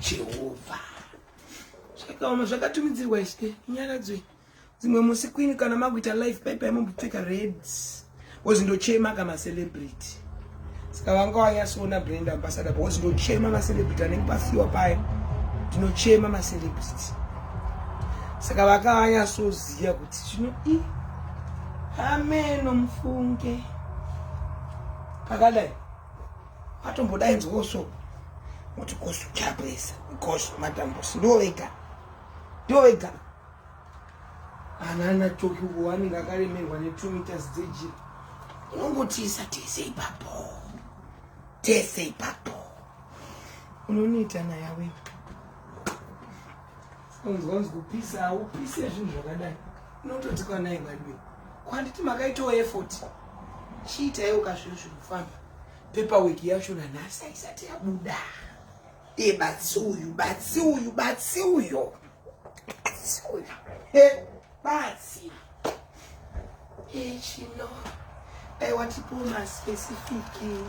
Jehovha zvakaoma zvakatumidzirwa ishe nyaradzwe dzimwe musi kwini kana makuita life paipai mombopfeka red wozindochema ka macelebrity saka vanga wanyasoona brand ambassador wozindochema macelebrity anenge pafiwa paye ndinochema macelebrity saka vakavanyasoziva kuti zvino i ameno mufunge pakadai Atombodaidzwawo so kuti kosu chapresa kosu matambusi ndiwo vega ndiwo vega anana tokiwo anenge akaremerwa ne2 meters dzejira unongotiisa tese ipapo tese ipapo unonita naye awe unzwa unzi kupisa haupise zvinhu zvakadai unototikwa naye vadiwe kwanditi makaitawo effort chiitaiwo kazviro zviri kufamba Paperwork yacho nanhasi haisati yabuda. Iye batsi uyu, batsi uyu, batsi uyo. Batsi uyu. He, batsi. He, chino. Aiwa tipo maspecific.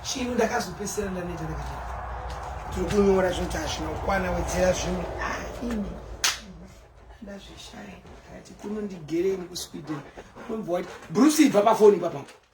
Chino ndakazopesera ndaneta ndakati. Tiri kunyora zvinoti hazvina kukwana wedzera zvimwe. Ah, ini. Ndazvishaya. Ndakati kuno ndigereni kuSweden. Unombowati, Bruce ibva pafoni ipapapo.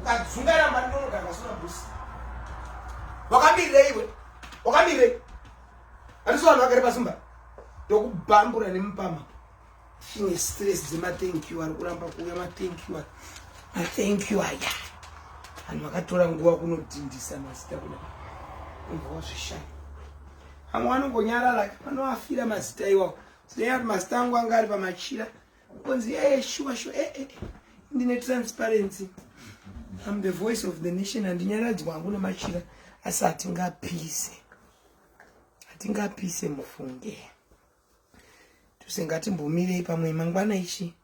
ukadzungana mari ndonogara vasina busi wakamireiwe wakamirei andisi vanhu vagare pasimba ndokubambura nemupama ine stress dzemathink you ari kuramba kuuya mathink you mathink you aya vanhu vakatora nguva kunodhindisa mazita kuda umva wazvishaya vamwe vanongonyarara vanoafira mazita iwawo zvinei kuti mazita angu anga ari pamachira Konzi eh shuwa shuwa eh eh ndine transparency. I'm the voice of the nation and nyaradzwa hangu nemachira asi hatingapise. Hatingapise mufunge. Tusingatimbomire pamwe mangwana ichi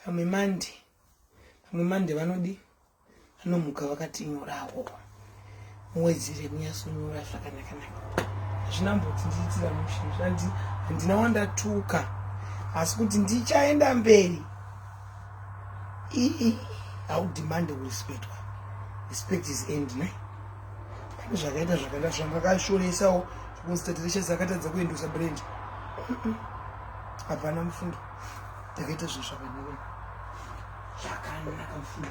pamwe mande pamwe mande vanodii Vanomuka vakatinyorawo muwedzere kunyasonyora zvakanakanaka hazvina mbotindiitira mushe zvanzi handina wandatuka asi kuti ndichaenda mberi ii haudimande kurespectwa respect is end ne pane zvakaita zvakaita zvangakashoresawo zvokunzi tatireshasi akatadza kuendosa brand hapana mufundo takaita zvinhu zvakanaka zvakanaka mfuna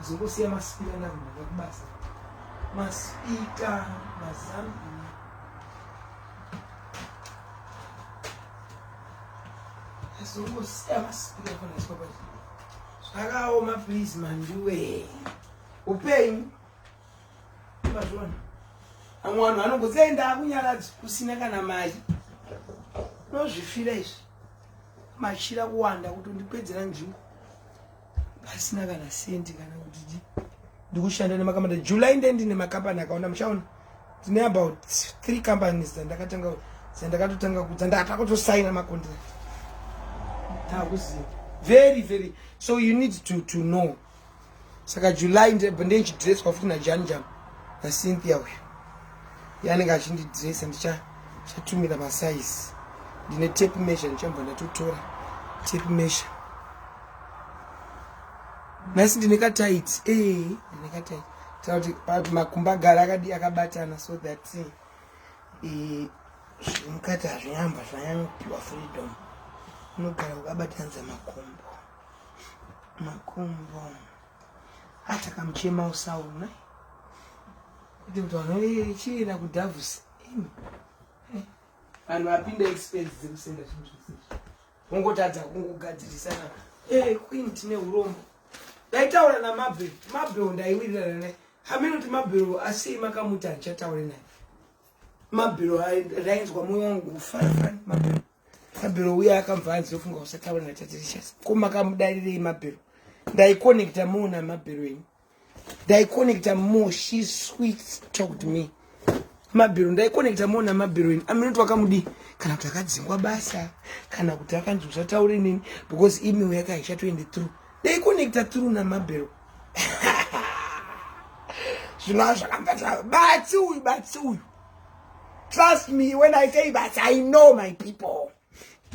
zongosiya masipika ndakunoda kubasa masipika mazambi zongosiya masipika fanaiswa pa zvakaoma please mandiwe upenyu mazvona amwe vanhu vanongoziva ndakunyaradzi kusina kana mari nozvifira izvi machira kuwanda kutondipedzera nzvimbo pasina kana sendi kana kuti di ndikushanda nemakambani july nde ndine makambani akaona muchaona tine about three companies dzandakatanga dzandakatotanga dzandakatosaina macontract takuziva very very so you need to, to know saka july ndeichidresswa futi najanjam nacynthia uyu yanenge achindidressa ndichatumira masaizi ndine tape measure ndichambva ndatotora tape measure nhasi ndine katight e eh, ndine katight tauti pati makumba gara akadi akabatana so that eh, eh, zviri mukati hazvinyamba zvanyanyopiwa freedom unogara ukabatanidza makumbo makumbo hata kamuchema usaona kuti mntu anochienda kudhavhusi eh, vanhu vapinda expense dzekusenda zvinhu zvese ungotadza kungogadzirisana e eh, queen tine urombo ndaitaura namabhe mabhe ndaiwirirana naye hameno kuti mabhero asei makamuti handichataure naye mabhero ndainzwa moyo wangu kufarafani mabhero mabhero uya akamva anzi ofunga kusataura natatirishas ko makamudarirei mabhero ndaikonekta more namabhero enyu ndaikonekta more she sweet talked me mabhero ndaikonekta more namabhero enyu aminoti wakamudii kana kuti akadzingwa basa kana kuti akanzi usataure neni because email yake haichatoende through ndaikonekta through namabhero zvinova zvakambaa batsi uyu batsi uyu trust me when i say that i know my people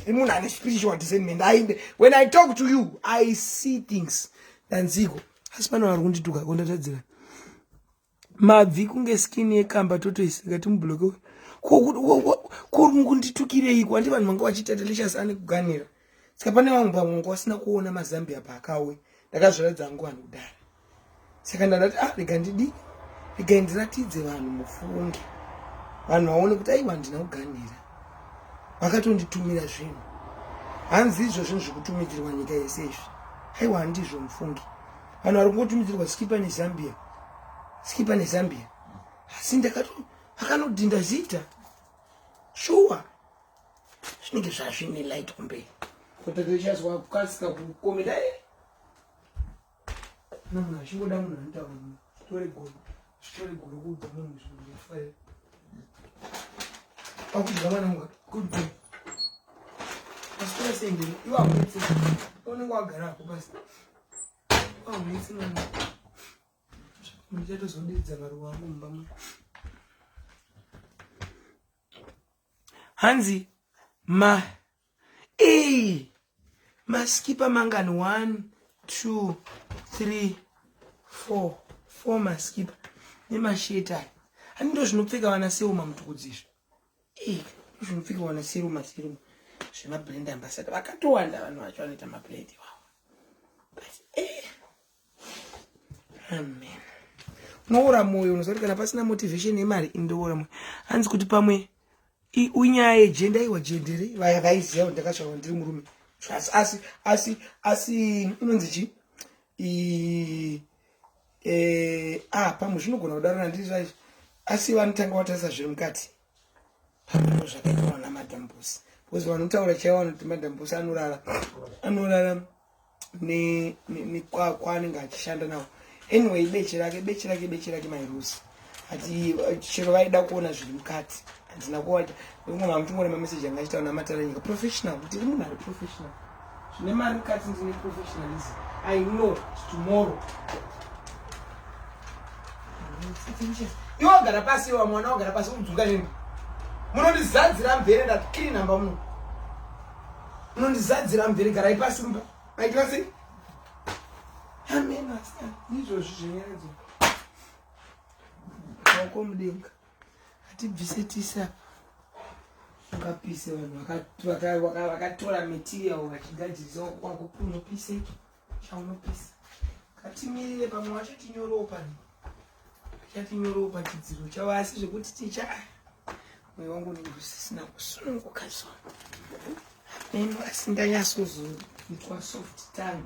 imunhu ane spiritual discernment ainde when i talk to you i see things danziko asi pano vari kundituka kondatadzira mabvi kunge skin yekamba totoisi ngati mubloke kuri kunditukireiko handi vanhu vanga vachiita delicious ane kuganira saka pane vamwe pamwe ngo vasina kuona mazambia paakawe ndakazviratidza hangu vanhu kudara saka ndandati ah rega ndidi rega ndiratidze vanhu mufunge vanhu vaone kuti aiwa ndina kuganhira vakatonditumira zvinhu hanzi izvo zvinhu zvikutumidzirwa nyika yese izvi aiwa handizvo mufunge vanhu vari kungotumidzirwa skipa nezambia skipa nezambia asi ndakato vakanodhinda zita shuwa sure. zvinenge zvazvine light kumberi kutatochazwa kukasika kukometa e kana munhu achingoda munhu anotaura munhu zvitore goro zvitore goro kuudza munhu zvinhu zvafaira pakudya mwana munga kudzi asikuda sendeni iwe aunetse unenge wagara ako pasi aunetse mwana muchatozodidza maruwa angu mumba mwa hanzi ma e maskipa mangani 1 2 3 4 4 maskipa nemasheti aya hani ndo zvinopfeka vana seuma mutukudzizvi e zvinopfeka vana seruma seruma zvemabrand ambasada vakatowanda vanhu vacho vanoita mabrand iwawo but e eh. amen unoora mwoyo unoziva kuti kana pasina motivation yemari indoora mwoyo hanzi kuti pamwe unyaya yejenda iwa jendere vaya vaiziva kuti ndakasvava ndiri murume asi asi asi asi inonzi chi e, ah pamwe zvinogona kudarana ndiri zvaizvo asi vanotanga vatarisa zviri mukati Hazvino zvakanyorwa naMadam Busi. Because vanotaura chaivo vanoti Madam Busi anorara anorara nekwakwa anenge achishanda nawo. Anyway, beche rake beche rake beche rake mairusi. Ati chero vaida kuona zviri mukati. Handina kuwacha. Ndikungoma mutungore mameseji anga achitaura namatara nyika. Professional. Ndiri munhu ari professional. zvine mari kati ndine professionalism i know tomorrow iwe wagara pasi iwa mwana wagara pasi udzuka nemba munondizadzira mvere ndakiri namba muno munondizadzira mvere garai pasi mba maitira sei amena ndizvozvi zvenyaradzo maoko mudenga Hatibvise tisa ungapise vanhu vakatora material vachigadzirisa kwako unopise chaunopisa katimirire pamwe wacho tinyorewo pano chatinyorewo pachidziro chavo asi zvekuti ticha mweya wangu unenge usisina kusununguka so Neni asi ndanyasozonzwa soft tongue.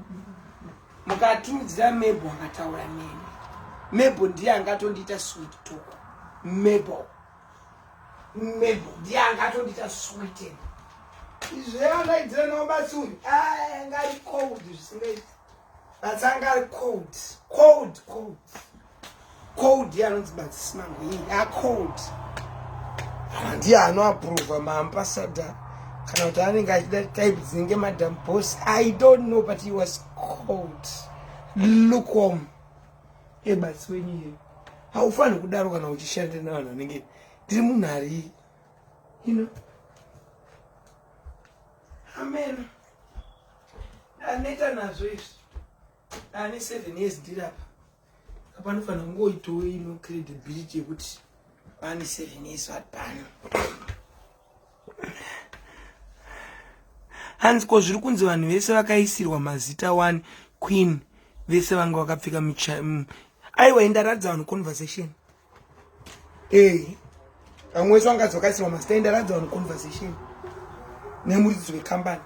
Mukatumidzira Mebo akataura neni. Mebo ndiye angatondiita sweet talk. Mebo. Mebo ndiye angatondiita sweet. Izve andaidzira nawo basi uyu. Ah, ngari cold zvisingaiti. That's angari cold. Cold, cold. cold anonzi badzisimangwe iyi a cold ndiye anoaprova maambassador kana kuti anenge achida type dzinenge madam boss i don't know but he was cold lukom ebatsi wenyu iye haufaniri kudaro kana uchishanda navanhu vanenge ndiri munhu ari you know amen aneta nazvo izvi ane seven years ndirapa Panofanira kungoitawo ino credibility yekuti pane seven years vari pano. Hanzi ko zviri kunzi vanhu vese vakaisirwa mazita one queen vese vanga vakapfeka aiwa indaratidza vanhu conversation Hey, vamwe wese vangadzi vakaisirwa mastand aradza vanhu conversation nemuridzisi wekambani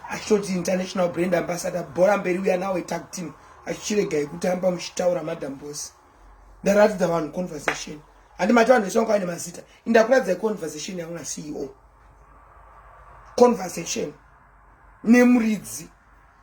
achitoti international brand ambassador bhora mberi uya nawo itag team achichiregai kutamba muchitaura madam boss ndaratidza vanhu conversation handi mati vanhu vese vanga vaine mazita indakuratidzai conversation yangu naceo conversation nemuridzi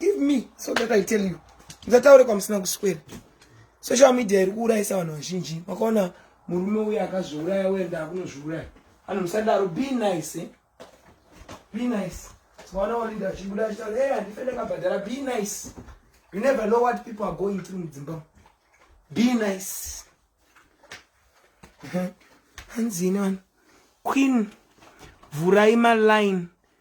Give me so that I tell you. Ndataure kwamusina kuswera. Social media iri kuurayisa vanhu vazhinji. Makaona murume uye akazviuraya uye ndaakunozviuraya. Vanhu musadaro be nice. Eh? Be nice. Tikaona walinda achibuda achitaura, "Hey, handife ndakabhadhara." Be nice. You never know what people are going through mudzimba. Be nice. Hanzini vanhu. Queen vhurai maline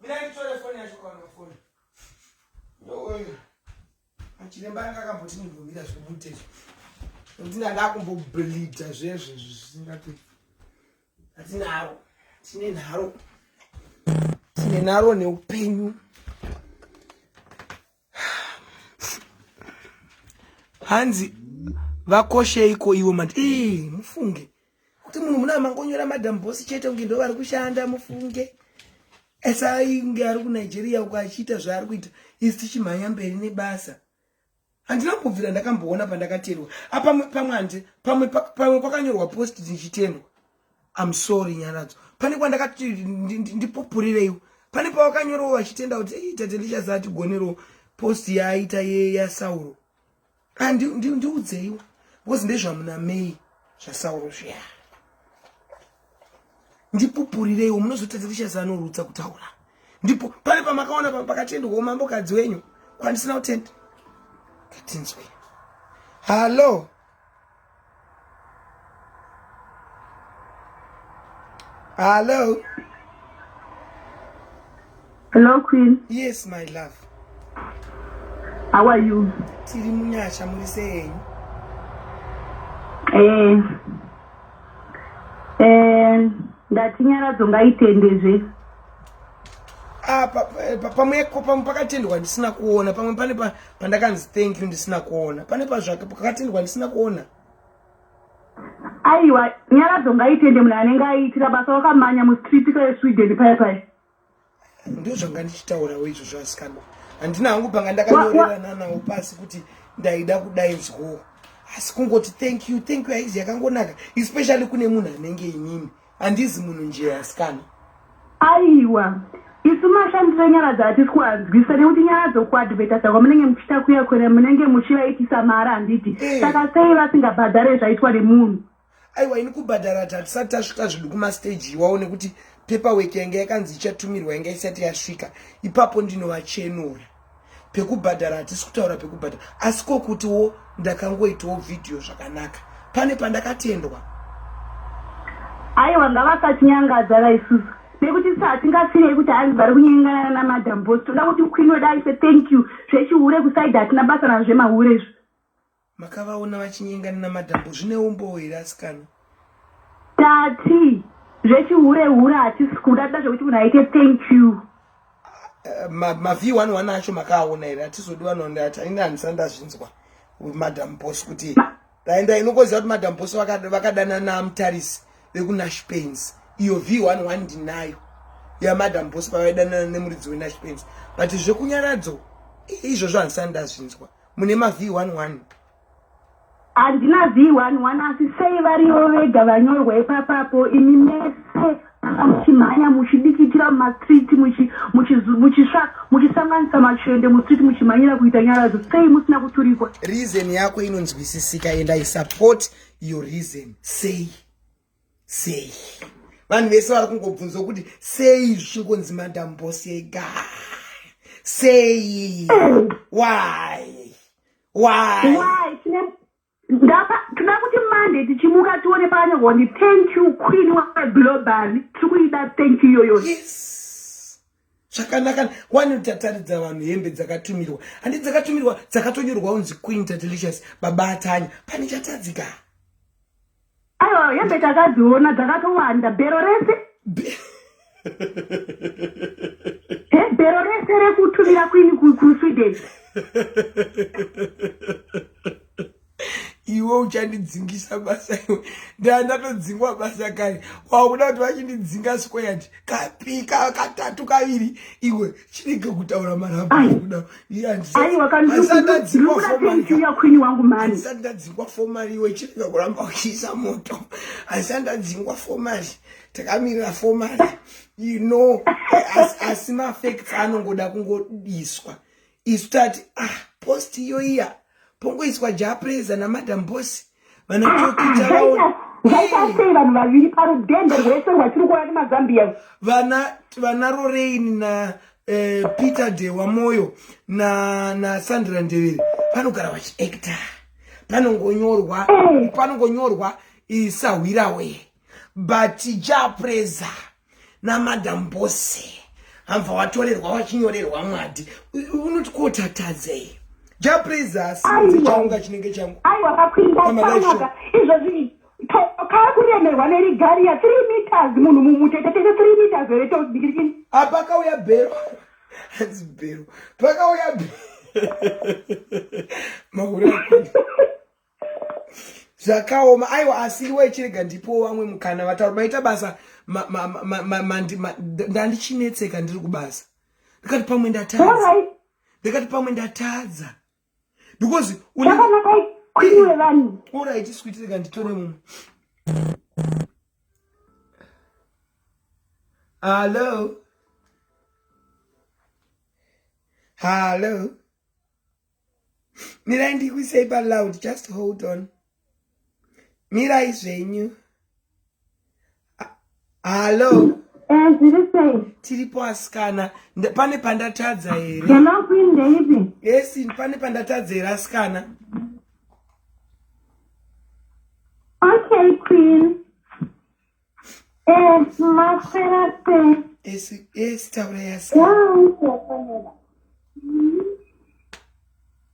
Mira nditore foni yacho kwaona foni. Ndoyo. Achiremba anga akamboti ndimbomira zvomutezvo. Nokuti ndakumboblida zvezvo zvisingati. Atinaro. Tine nharo. Tine nharo neupenyu. hanzi vakosheiko ivo mati ee mufunge kuti munhu muna mangonyora madam boss chete kunge ndo vari kushanda mufunge esainge ari kunigeria uko achiita zvaari kuita isi tichimhanya mberi nebasa handina kubvira ndakamboona pandakaterwa apa pamwe handi pamwe kwakanyorwa post ndichitendwa I'm sorry Nyaradzo. Pane kwandakati ndipupurireiwo. Pane pawakanyorawo vachitenda kuti hey, tate ndichaza atigonerewo post yaaita ye yaSauro. Ah ndi ndi ndiudzeiwo. Because ndezvamuna May zvaSauro zviya. Ndipupurireiwo munozotadza tichaza anorutsa kutaura. Ndipo pane pamakaona pakatendwa umambo kadzi wenyu kwandisina kutenda. Katinzwe. Hello. Hello. Hello, Queen. Yes, my love. How are you? Tiri munyasha muri sei? Eh. Eh, ndati nyaradzo ngaitendezve. Ah, pamwe pamwe pakatendwa ndisina kuona pamwe pane pandakanzi thank you ndisina kuona pane pazvake pakatendwa ndisina kuona aiwa nyaradzo ngaitende munhu anenge aiitira basa wakamanya mustreet kaesweden paya paya ndo zvanga ndichitaurawo izvo zvasikana handina hangu panga ndakanyorerana nawo pasi kuti ndaida kudai zwo asi kungoti thank you thank you haizi yakangonaka especially kune munhu anenge inini Handizi munhu njee asikana. Aiwa. Isu mashandiro enyaradza hatisi kuanzwisisa nekuti nyaradzo kuadvertisa kwamunenge muchiita kuya kwere munenge muchivaitisa mahara handiti? Eh. Saka sei vasingabhadhare zvaitwa nemunhu? Aiwa ini kubhadhara hati hatisati tasvika zvedu kumastage iwawo nekuti paperwork yanga yakanzi ichatumirwa yanga isati yasvika. Ipapo ndinovachenura. pekubhadhara hatisi kutaura pekubhadhara asi kokutiwo ndakangoitawo vhidhiyo zvakanaka pane pandakatendwa aiwa ngavasachinyangadza vaisusu nekuti sa hatingasirei kuti hanzi vari kunyengana namadam bos toda kuti queen wedaife thank you zvechihure kusaida hatina basa nazvemahure izvo Makavaona vachinyengana namadhambo zvine umbowo here asikana? Tati zvechihure hure hatisi kuda toda zvekuti munhu aite thank you. Eh, ma ma V11 acho makaaona here hatizodi vanonda ati haina handisa ndazvinzwa madam boss kuti ndaenda inokoziva kuti madam boss vakadana namutarisi vekunash pains iyo V11 ndinayo yamadam boss pavaidanana nemuridzi wenash pains but zvekunyaradzo izvozvo handisa ndazvinzwa mune ma v11 handina v11 asi sei varivo vega vanyorwa ipapapo imi mese muchimhanya muchidikitira mumastreet muchisanganisa machende mustreet muchimhanyira kuita nyaradzo sei musina kuturikwa reason yako inonzwisisika and i support your reason sei sei vanhu vese vari kungobvunzwa kuti sei zvichingonzi madam boss ega sei why why ndapa tinoda kuti mande tichimuka tione pakanyorwa kuti thank you queen waglobal tiri kuida thank you iyoyo yes. zvakanaka wani tataridza vanhu hembe dzakatumirwa handi dzakatumirwa dzakatonyorwa unzi queen tadelicious baba atanya pane chatadzika aiwa hembe takadziona dzakatowanda bhero rese bhero rese rekutumira queen kusweden iwe uchandidzingisa basa iwe ndaa ndatodzingwa basa kare wakuda kuti vachindidzinga squared kapi katatu kaviri iwe chinenge kutaura marabudaaaiwakandadzingwa fomari iwe chinenge kuramba uchiisa moto aisandadzingwa fomari takamirira fomari you know asi mafacts anongoda kungodiswa isu tati ah post iyo iya pongoiswa japreza namadam bosi vanatokita vaona ngaitaisei vanhu vaviri parudhende rwese rwachiri kuona nemazambiya vana vana roreini na eh, peter dewa moyo na na sandra ndevere vanogara vachiacta panongonyorwa Eh. panongonyorwa isahwirawe but japreza namadam bose hambva watorerwa wachinyorerwa mwadi unoti kotatadzei japraisaunga chinenge changu aiwa kakuindaanaka izvozvi kaa kuremerwa nerigariya three meters munhu mumutetetete three meters here todikirikini apakauya bhero hanzi bhero pakauya bhero mahure zvakaoma aiwa asi iwa ichirega ndipowo vamwe mukana vataura maita basa ndandichinetseka ndiri kubasa ndikati pamwe ndatadza ndikati pamwe ndatadza because orit switireka nditore mumwe hallo hallo mirai ndikuisei paloud just hold on mirai zvenyu hallo eh, tiri sei tiripo asikana pane pandatadza here yemakuindeipi yes pane pandatadza here asikana okay queen Eh, maswera sei? Yes, yes, taura yasa. Wakuofanira.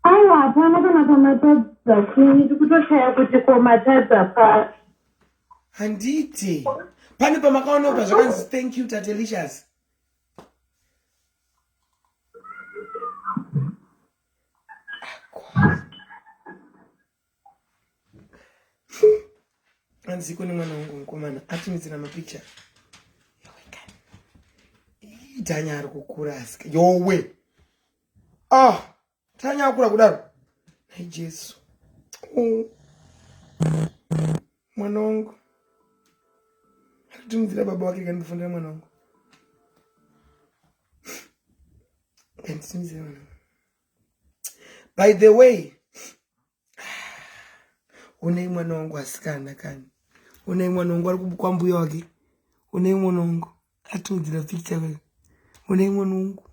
Aiwa hapana kana pamatadza chini tikutoshaya kuti komatadza pa. Handiti. Pane pamakaona pa zvakanzi thank you Tatelicious. hanzi kune mwana wangu mukomana atumidzira mapicha tanya ari kukura asika yowe ah tanya akura kudaro nai jesu oh. mwana wangu atitumidzira baba wake kandifundira mwana wangu kanditumidzira mwana wangu by the way unei mwana wangu asikana kani unei mwana wangu ari kubukwa mbuya wake unei mwana wangu atiudzira picture kani unei mwana wangu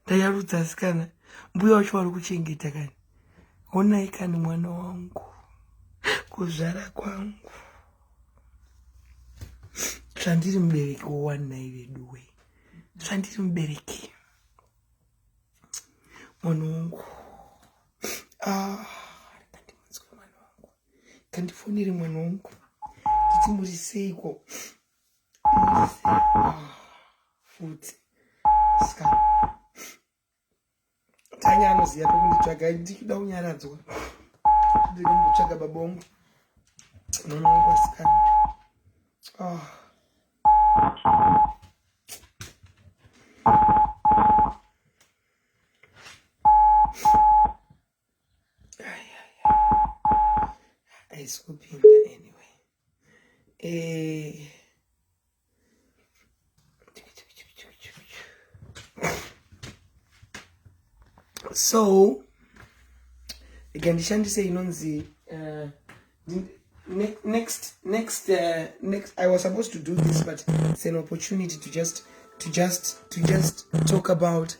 ndayarudza asikana mbuya wacho wari kuchengeta kani onai kani mwana wangu kuzvara kwangu zvandiri mubereki wowanai veduwe zvandiri mubereki mwana wangu ah, kandimunzwe mwana wangu kandifonere mwana wangu nditi muri seiko ah, futi ska tanya anoziva pekunditsvaga ndikuda kunyaradzwa ndikumbotsvaga baba wangu mwana wangu asikana ah. ayisikupinda anyway eh so rega ndishandise inonzi uh, next next next uh, next i was supposed to do this but it's an opportunity to just to just to just talk about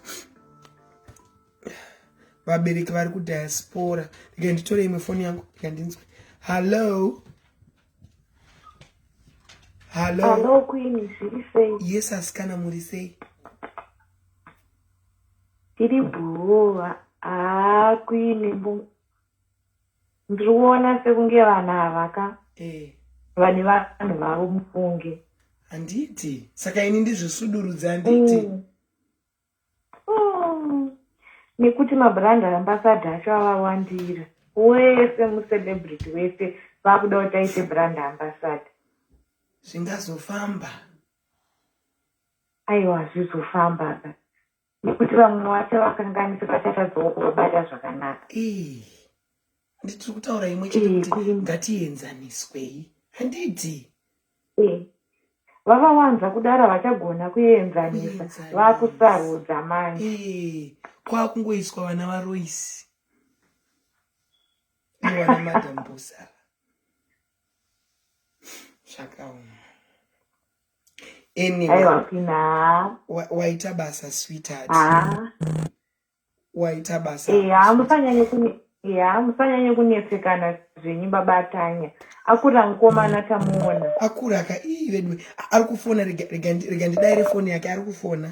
vabereki vari kudiaspora rega nditore imwe foni yangu rega ndinzwe hallo hallo kwini zviri sei yes asikana muri sei tiri bhuwa haa kwini Ndiri kuona sekunge vanhu ava ka eh. vane vanhu vavo mufunge. Handiti saka ini ndizvisudurudza handiti mm. mm. nekuti mabrand ambasada acho avawandira wese mucelebrity wese vakuda kuti aite brand ambasada zvingazofamba aiwa zvizofamba ka nekuti vamwe wacho vakanganisa vachatadzawo kuvabata zvakanaka nditiri kutaura imwe chete kuti ngatienzaniswei handiti vavawanza kudara vachagona kuenzanisa vakusarudza manje kwakungoiswa vana varoisi iwana madambusa zvakaoma anyway waita basa sweetheart waita basa ya musanyanye kunetsekana zvenyu baba atanya akura mukomana tamuona akura ka ii vedu ari kufona rega ndidaire foni yake ari kufona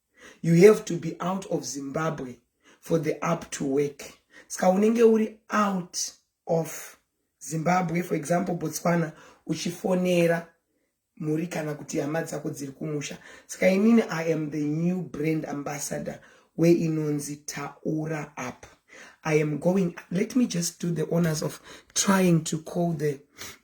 you have to be out of zimbabwe for the up to work ska unenge uri out of zimbabwe for example botswana uchifonera mhuri kana kuti hama dzako dziri kumusha ska inini i am the new brand ambassador where inonzi taura up i am going let me just do the honors of trying to call the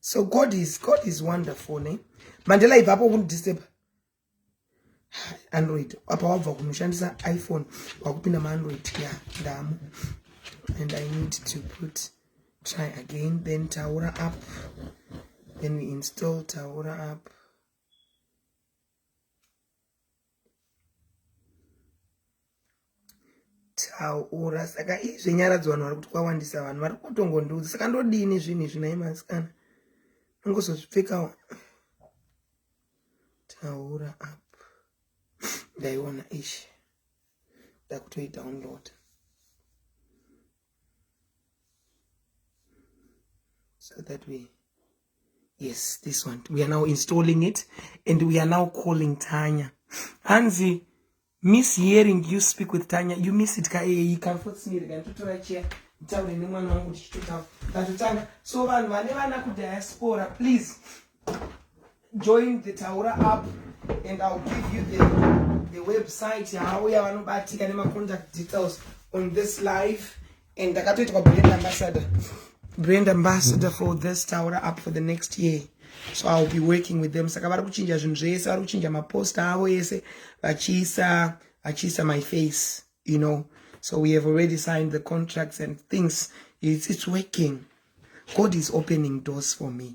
so god is god is wonderful ne mandela ibva apo kundidisturba android apa wabva kunoshandisa iphone wakupinda maandroid ya ndamu and i need to put try again then taura up then we install taura up taura saka izvi nyaradzo vanhu vari kuti kwawandisa vanhu vari kutongondiudza saka ndodini zvinhu izvi nai masikana ongozozvipfekawo taura apa ndaiona ishi ndakutoidownload so that we yes this one we are now installing it and we are now calling tanya hanzi miss hearing you speak with tanya you miss it kaeyi kamfotsinirekanitotora chair nditaure nemwana wangu tichitotaura ndatotanga so vanhu vane vana kudiaspora please join the taura app and ill give you the, the website yaauya vanobatika nemacontact details on this live and ndakatoitwa brand ambassador brand ambassador for this taura up for the next year so iwill be working with them saka vari kuchinja zvinhu zvese vari kuchinja maposta avo ese vachiisa vachiisa my face you know so we have already signed the contracts and things it's, it's working god is opening doors for me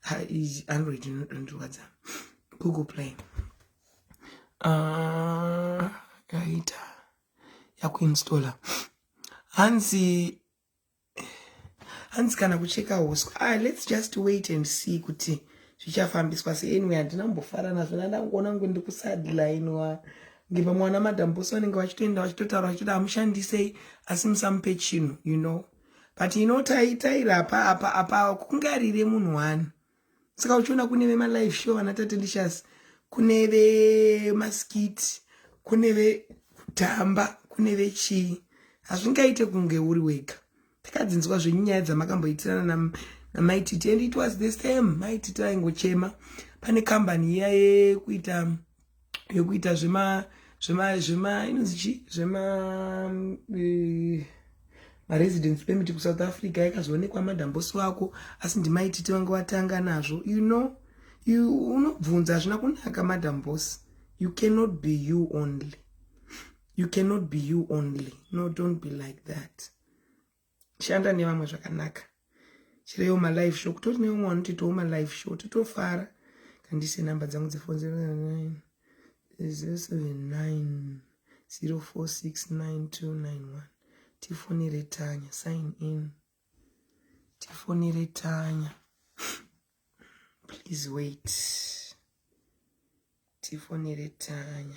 ha izi android inodondirwadza google play ah, yaita yakuinstalla hanzi hanzi kana kucheka huswa ah, let's just wait and see kuti zvichafambiswa se anyway handina mbofara nazvo nandangoona ngu ndikusadlainwa ngepamwana madambosi vanenge vachitoenda vachitotaura vachitoda amushandisei asi musamupe chinhu you know but inotaitaira apa apa apa kungarire munhu wani saka uchiona kune vemalife show vana tate ndishasi kune vemaskiti kune vekutamba kune vechii hazvingaite kunge uri wega takadzinzwa zvenyu nyaya dzamakamboitirana namaititi and it was the same maititi aingochema pane kambani iya yekuita yekuita zvema zvema zvema inonzi chi zvema eh, maresidence permit kusouth africa yakazoonekwa madhambosi wako asi ndimaititi vanga watanga nazvo you know you unobvunza hazvina kunaka madhambosi you cannot be you only you cannot be you only no don't be like that shanda nevamwe zvakanaka chireyo malive show kutori neumwe wanotitawo malive show totofara kandise number dzangu dzefon 09 079 046991 tifonere tanya sign in tifonere tanya please wait tifonere tanya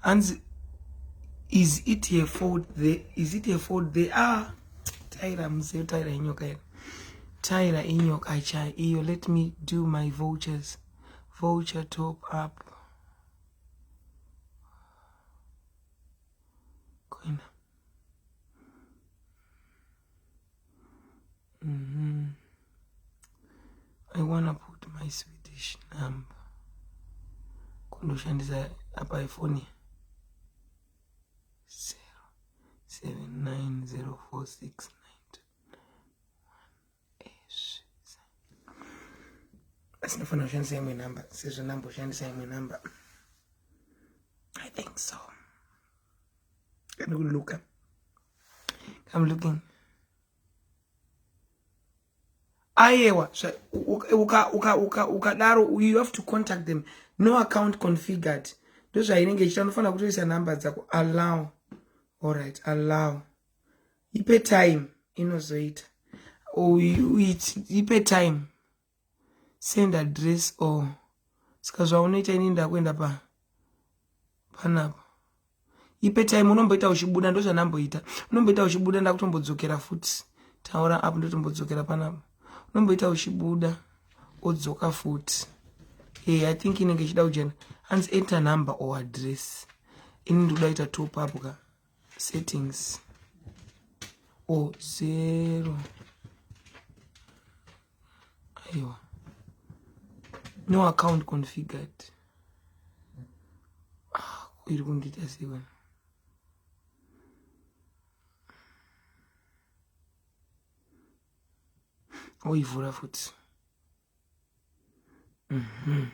hanzi is it her fault there is it her fault there ah taira mzee taira inyoka yako taira inyoka chai iyo let me do my vouchers voucher top up koina mm -hmm. I wanna put my Swedish number kundoshandisa apa ifoni zero seven nine zero four six nine asi ndofana kushandisa imwe number sezvo ndamboshandisa imwe number i think so Can you look up? I'm looking. Ayewa, uka uka uka ukadaro you have to contact them. No account configured. Ndozvainenge ichita unofanira kutoisa number dzako allow. All right, allow. Ipe time inozoita. Uite ipe time. send address or oh. saka zvaunoita ini ndakuenda pa panapa ipe time unomboita uchibuda ndozvanamboita unomboita uchibuda ndakutombodzokera futi taura apo ndotombodzokera panapa unomboita uchibuda odzoka futi e i think inenge ichida kujena hanzi enter number or address ini ndikuda kuita top up ka settings or zero aiwa no account configured ah, iri kundiita sei vana oivhura oh, futi mm -hmm.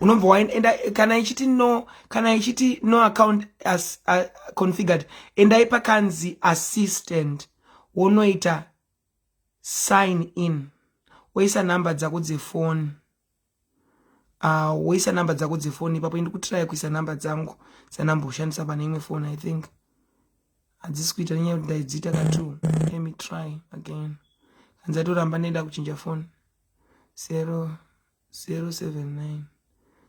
unobva waenda kana ichiti no kana ichiti no account as uh, configured endai pakanzi assistant wonoita sign in woisa number dzako dzefoni uh, woisa number dzako dzefoni ipapo indi kutiraya kuisa number dzangu dzanumber ushandisa pane imwe foni i think hadzisi kuita nenyaya kuti ndaidziita katu let me try again hanzatoramba neda kuchinja foni zero zero seven nine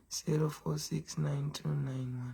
zero four six nine two nine one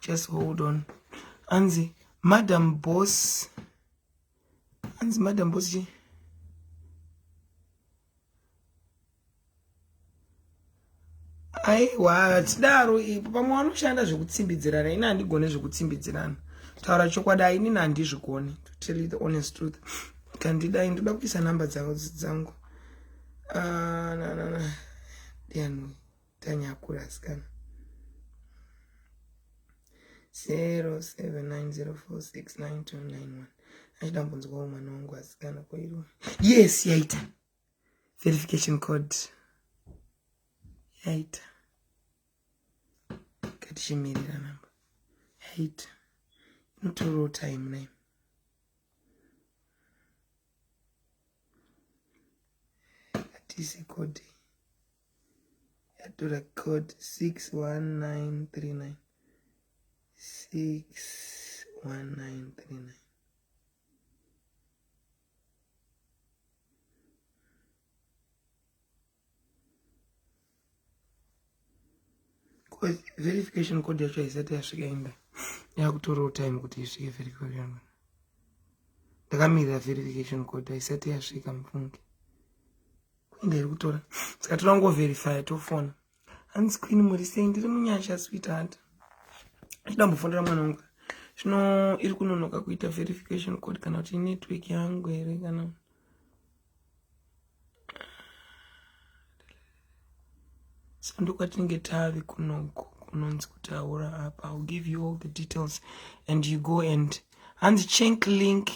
just hold on anzi madam boss anzi madam boss chii aiwa hatidaro ipo pamwe vanoshanda zvekutsimbidzirana ini handigone zvekutsimbidzirana taura chokwadi ainini handizvigone to tell you the honest truth kandidai ndoda kuisa number dzangu dzangu ah, na, na, na. tanyakura asikana 0790469291 achida kumbonzwawo mwana wangu asikana koiriwa yes yaita verification code yaita katichimirira namba yaita inotorawo time name katise code yatora code 61939 61939 verification code yacho haisati yasvika imba yakutorawo time kuti isvike verification ndakamirira verification code haisati yasvika mufunge Queen iri kutora. Saka toda kungo verify tofona. Hanzi Queen muri sei ndiri munyasha sweetheart. Ndida mbofonera mwana wangu. Zvino iri kunonoka kuita verification code kana kuti network yangu here kana sandokwatinenge tave kunoko kunonzi kutaura apa ill give you all the details and you go and hanzi chank link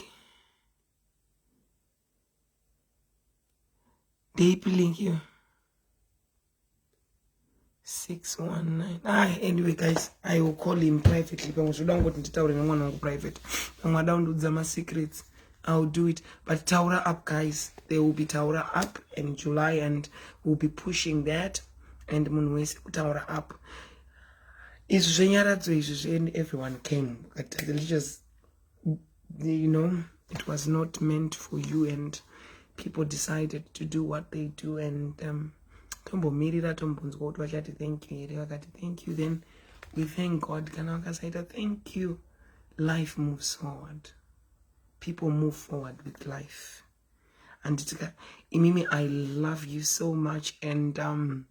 ndeipi link iyo 619 ah anyway guys i will call him privately pamwe zvoda kungoti nditaure nemwana wangu private pamwe ada kundiudza masecrets I'll do it. But Taura up, guys. There will be Taura up in July, and we'll be pushing that. And Munwese Taura up. Is Zenyaradzo is and everyone came. But let's just you know it was not meant for you and people decided to do what they do and um, tombomirira tombonzwa kuti vachati thank you here vakati thank you then we thank god kana vakasaita thank you life moves forward people move forward with life and tika imimi i love you so much and um,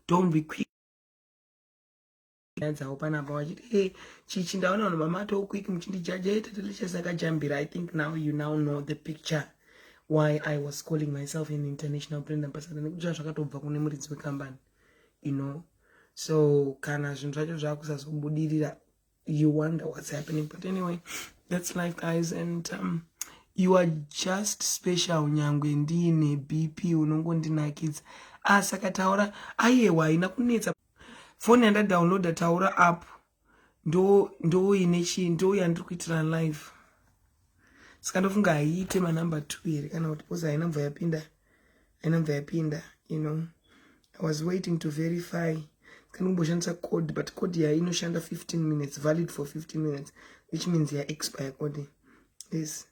don't be quick nyaya dzavo panapa vachiti e eh, chichi ndaona vanhu vamatawo quick muchindijaja e eh, tatalisha sakajambira i think now you now know the picture why i was calling myself an international brand ambassador nekuti zva zvakatobva kune muridzi wekambani you know so kana zvinhu zvacho zvakusazobudirira you wonder what's happening but anyway that's life guys and um, you are just special nyangwe ndiine bp unongondinakidza asakataura ah, ayewa haina kunetsa foni yanda downloada taura app ndo ndo ine chi ndo yandiri kuitira live saka ndofunga haiite manumber two here kana kuti bcause haina mva yapinda haina mva yapinda you know i was waiting to verify saka ndikumboshandisa code but code yayo inoshanda 15 minutes valid for 15 minutes which means ya expire code is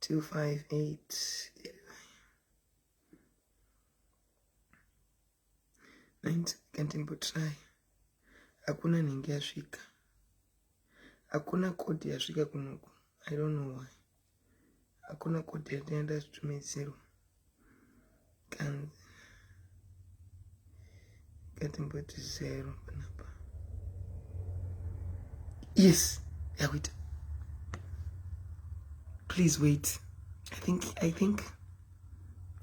258 Ainzi kandimbotirai hakuna nhingi yasvika hakuna kodi yasvika kunoku i don't know why hakuna kodi yatenda zvitumidzirwa kanzi ngatimboti zero panapa yes yakuita please wait i think i think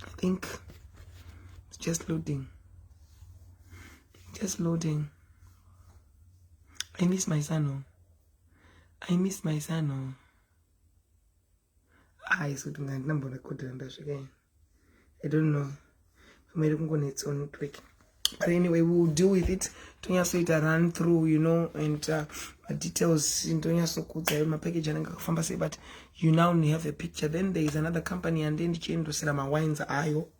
i think it's just loading just loading i miss my son oh. i miss my son oh. ah isu kuti ngandina mbona kodera ndasvika yin i don't know pamwe iri kungonetsa on network but anyway we will deal with it tonyatsoita run through you know and uh, madetails ndonyatsokudza yo mapackage anenge akafamba sei but you now have a picture then there is another company yande ndichiendosera mawines ayo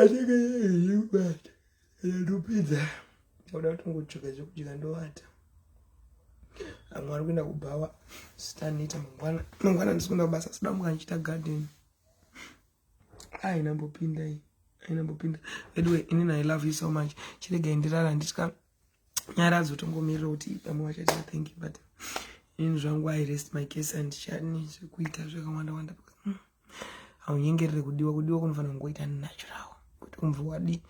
anenge yeyubata yanopedza oda kutongotsvika zvekudya ndovata amwe ari kuenda kubhawa sitanoita mangwana mangwana ndisikuenda kubasa sidamuka ndichiita garden ainambopinda iyi ainambopinda veduwe inini i love you so much chiregai ndirara handitya nyaradzo tongomirira kuti pamwe vachaita thank you but ini zvangu i rest my case and chani zvekuita zvakawanda wanda hmm. haunyengerere kudiwa kudiwa kunofanira kungoita natural kuti umve wadi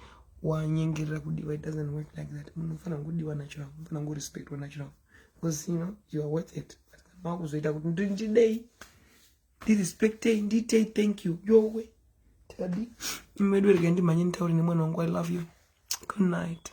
wanyengerera kudiwa it doesn't work like that munhu unofanira kungokudiwa natural unofanira kungorespectwa natural because you know you are worth it but kana wakuzoita kuti ndidei ndirespectei ndiitei thank you yowe tadi imwe yedu regai ndimhanye nditaure nemwana wangu i love you good night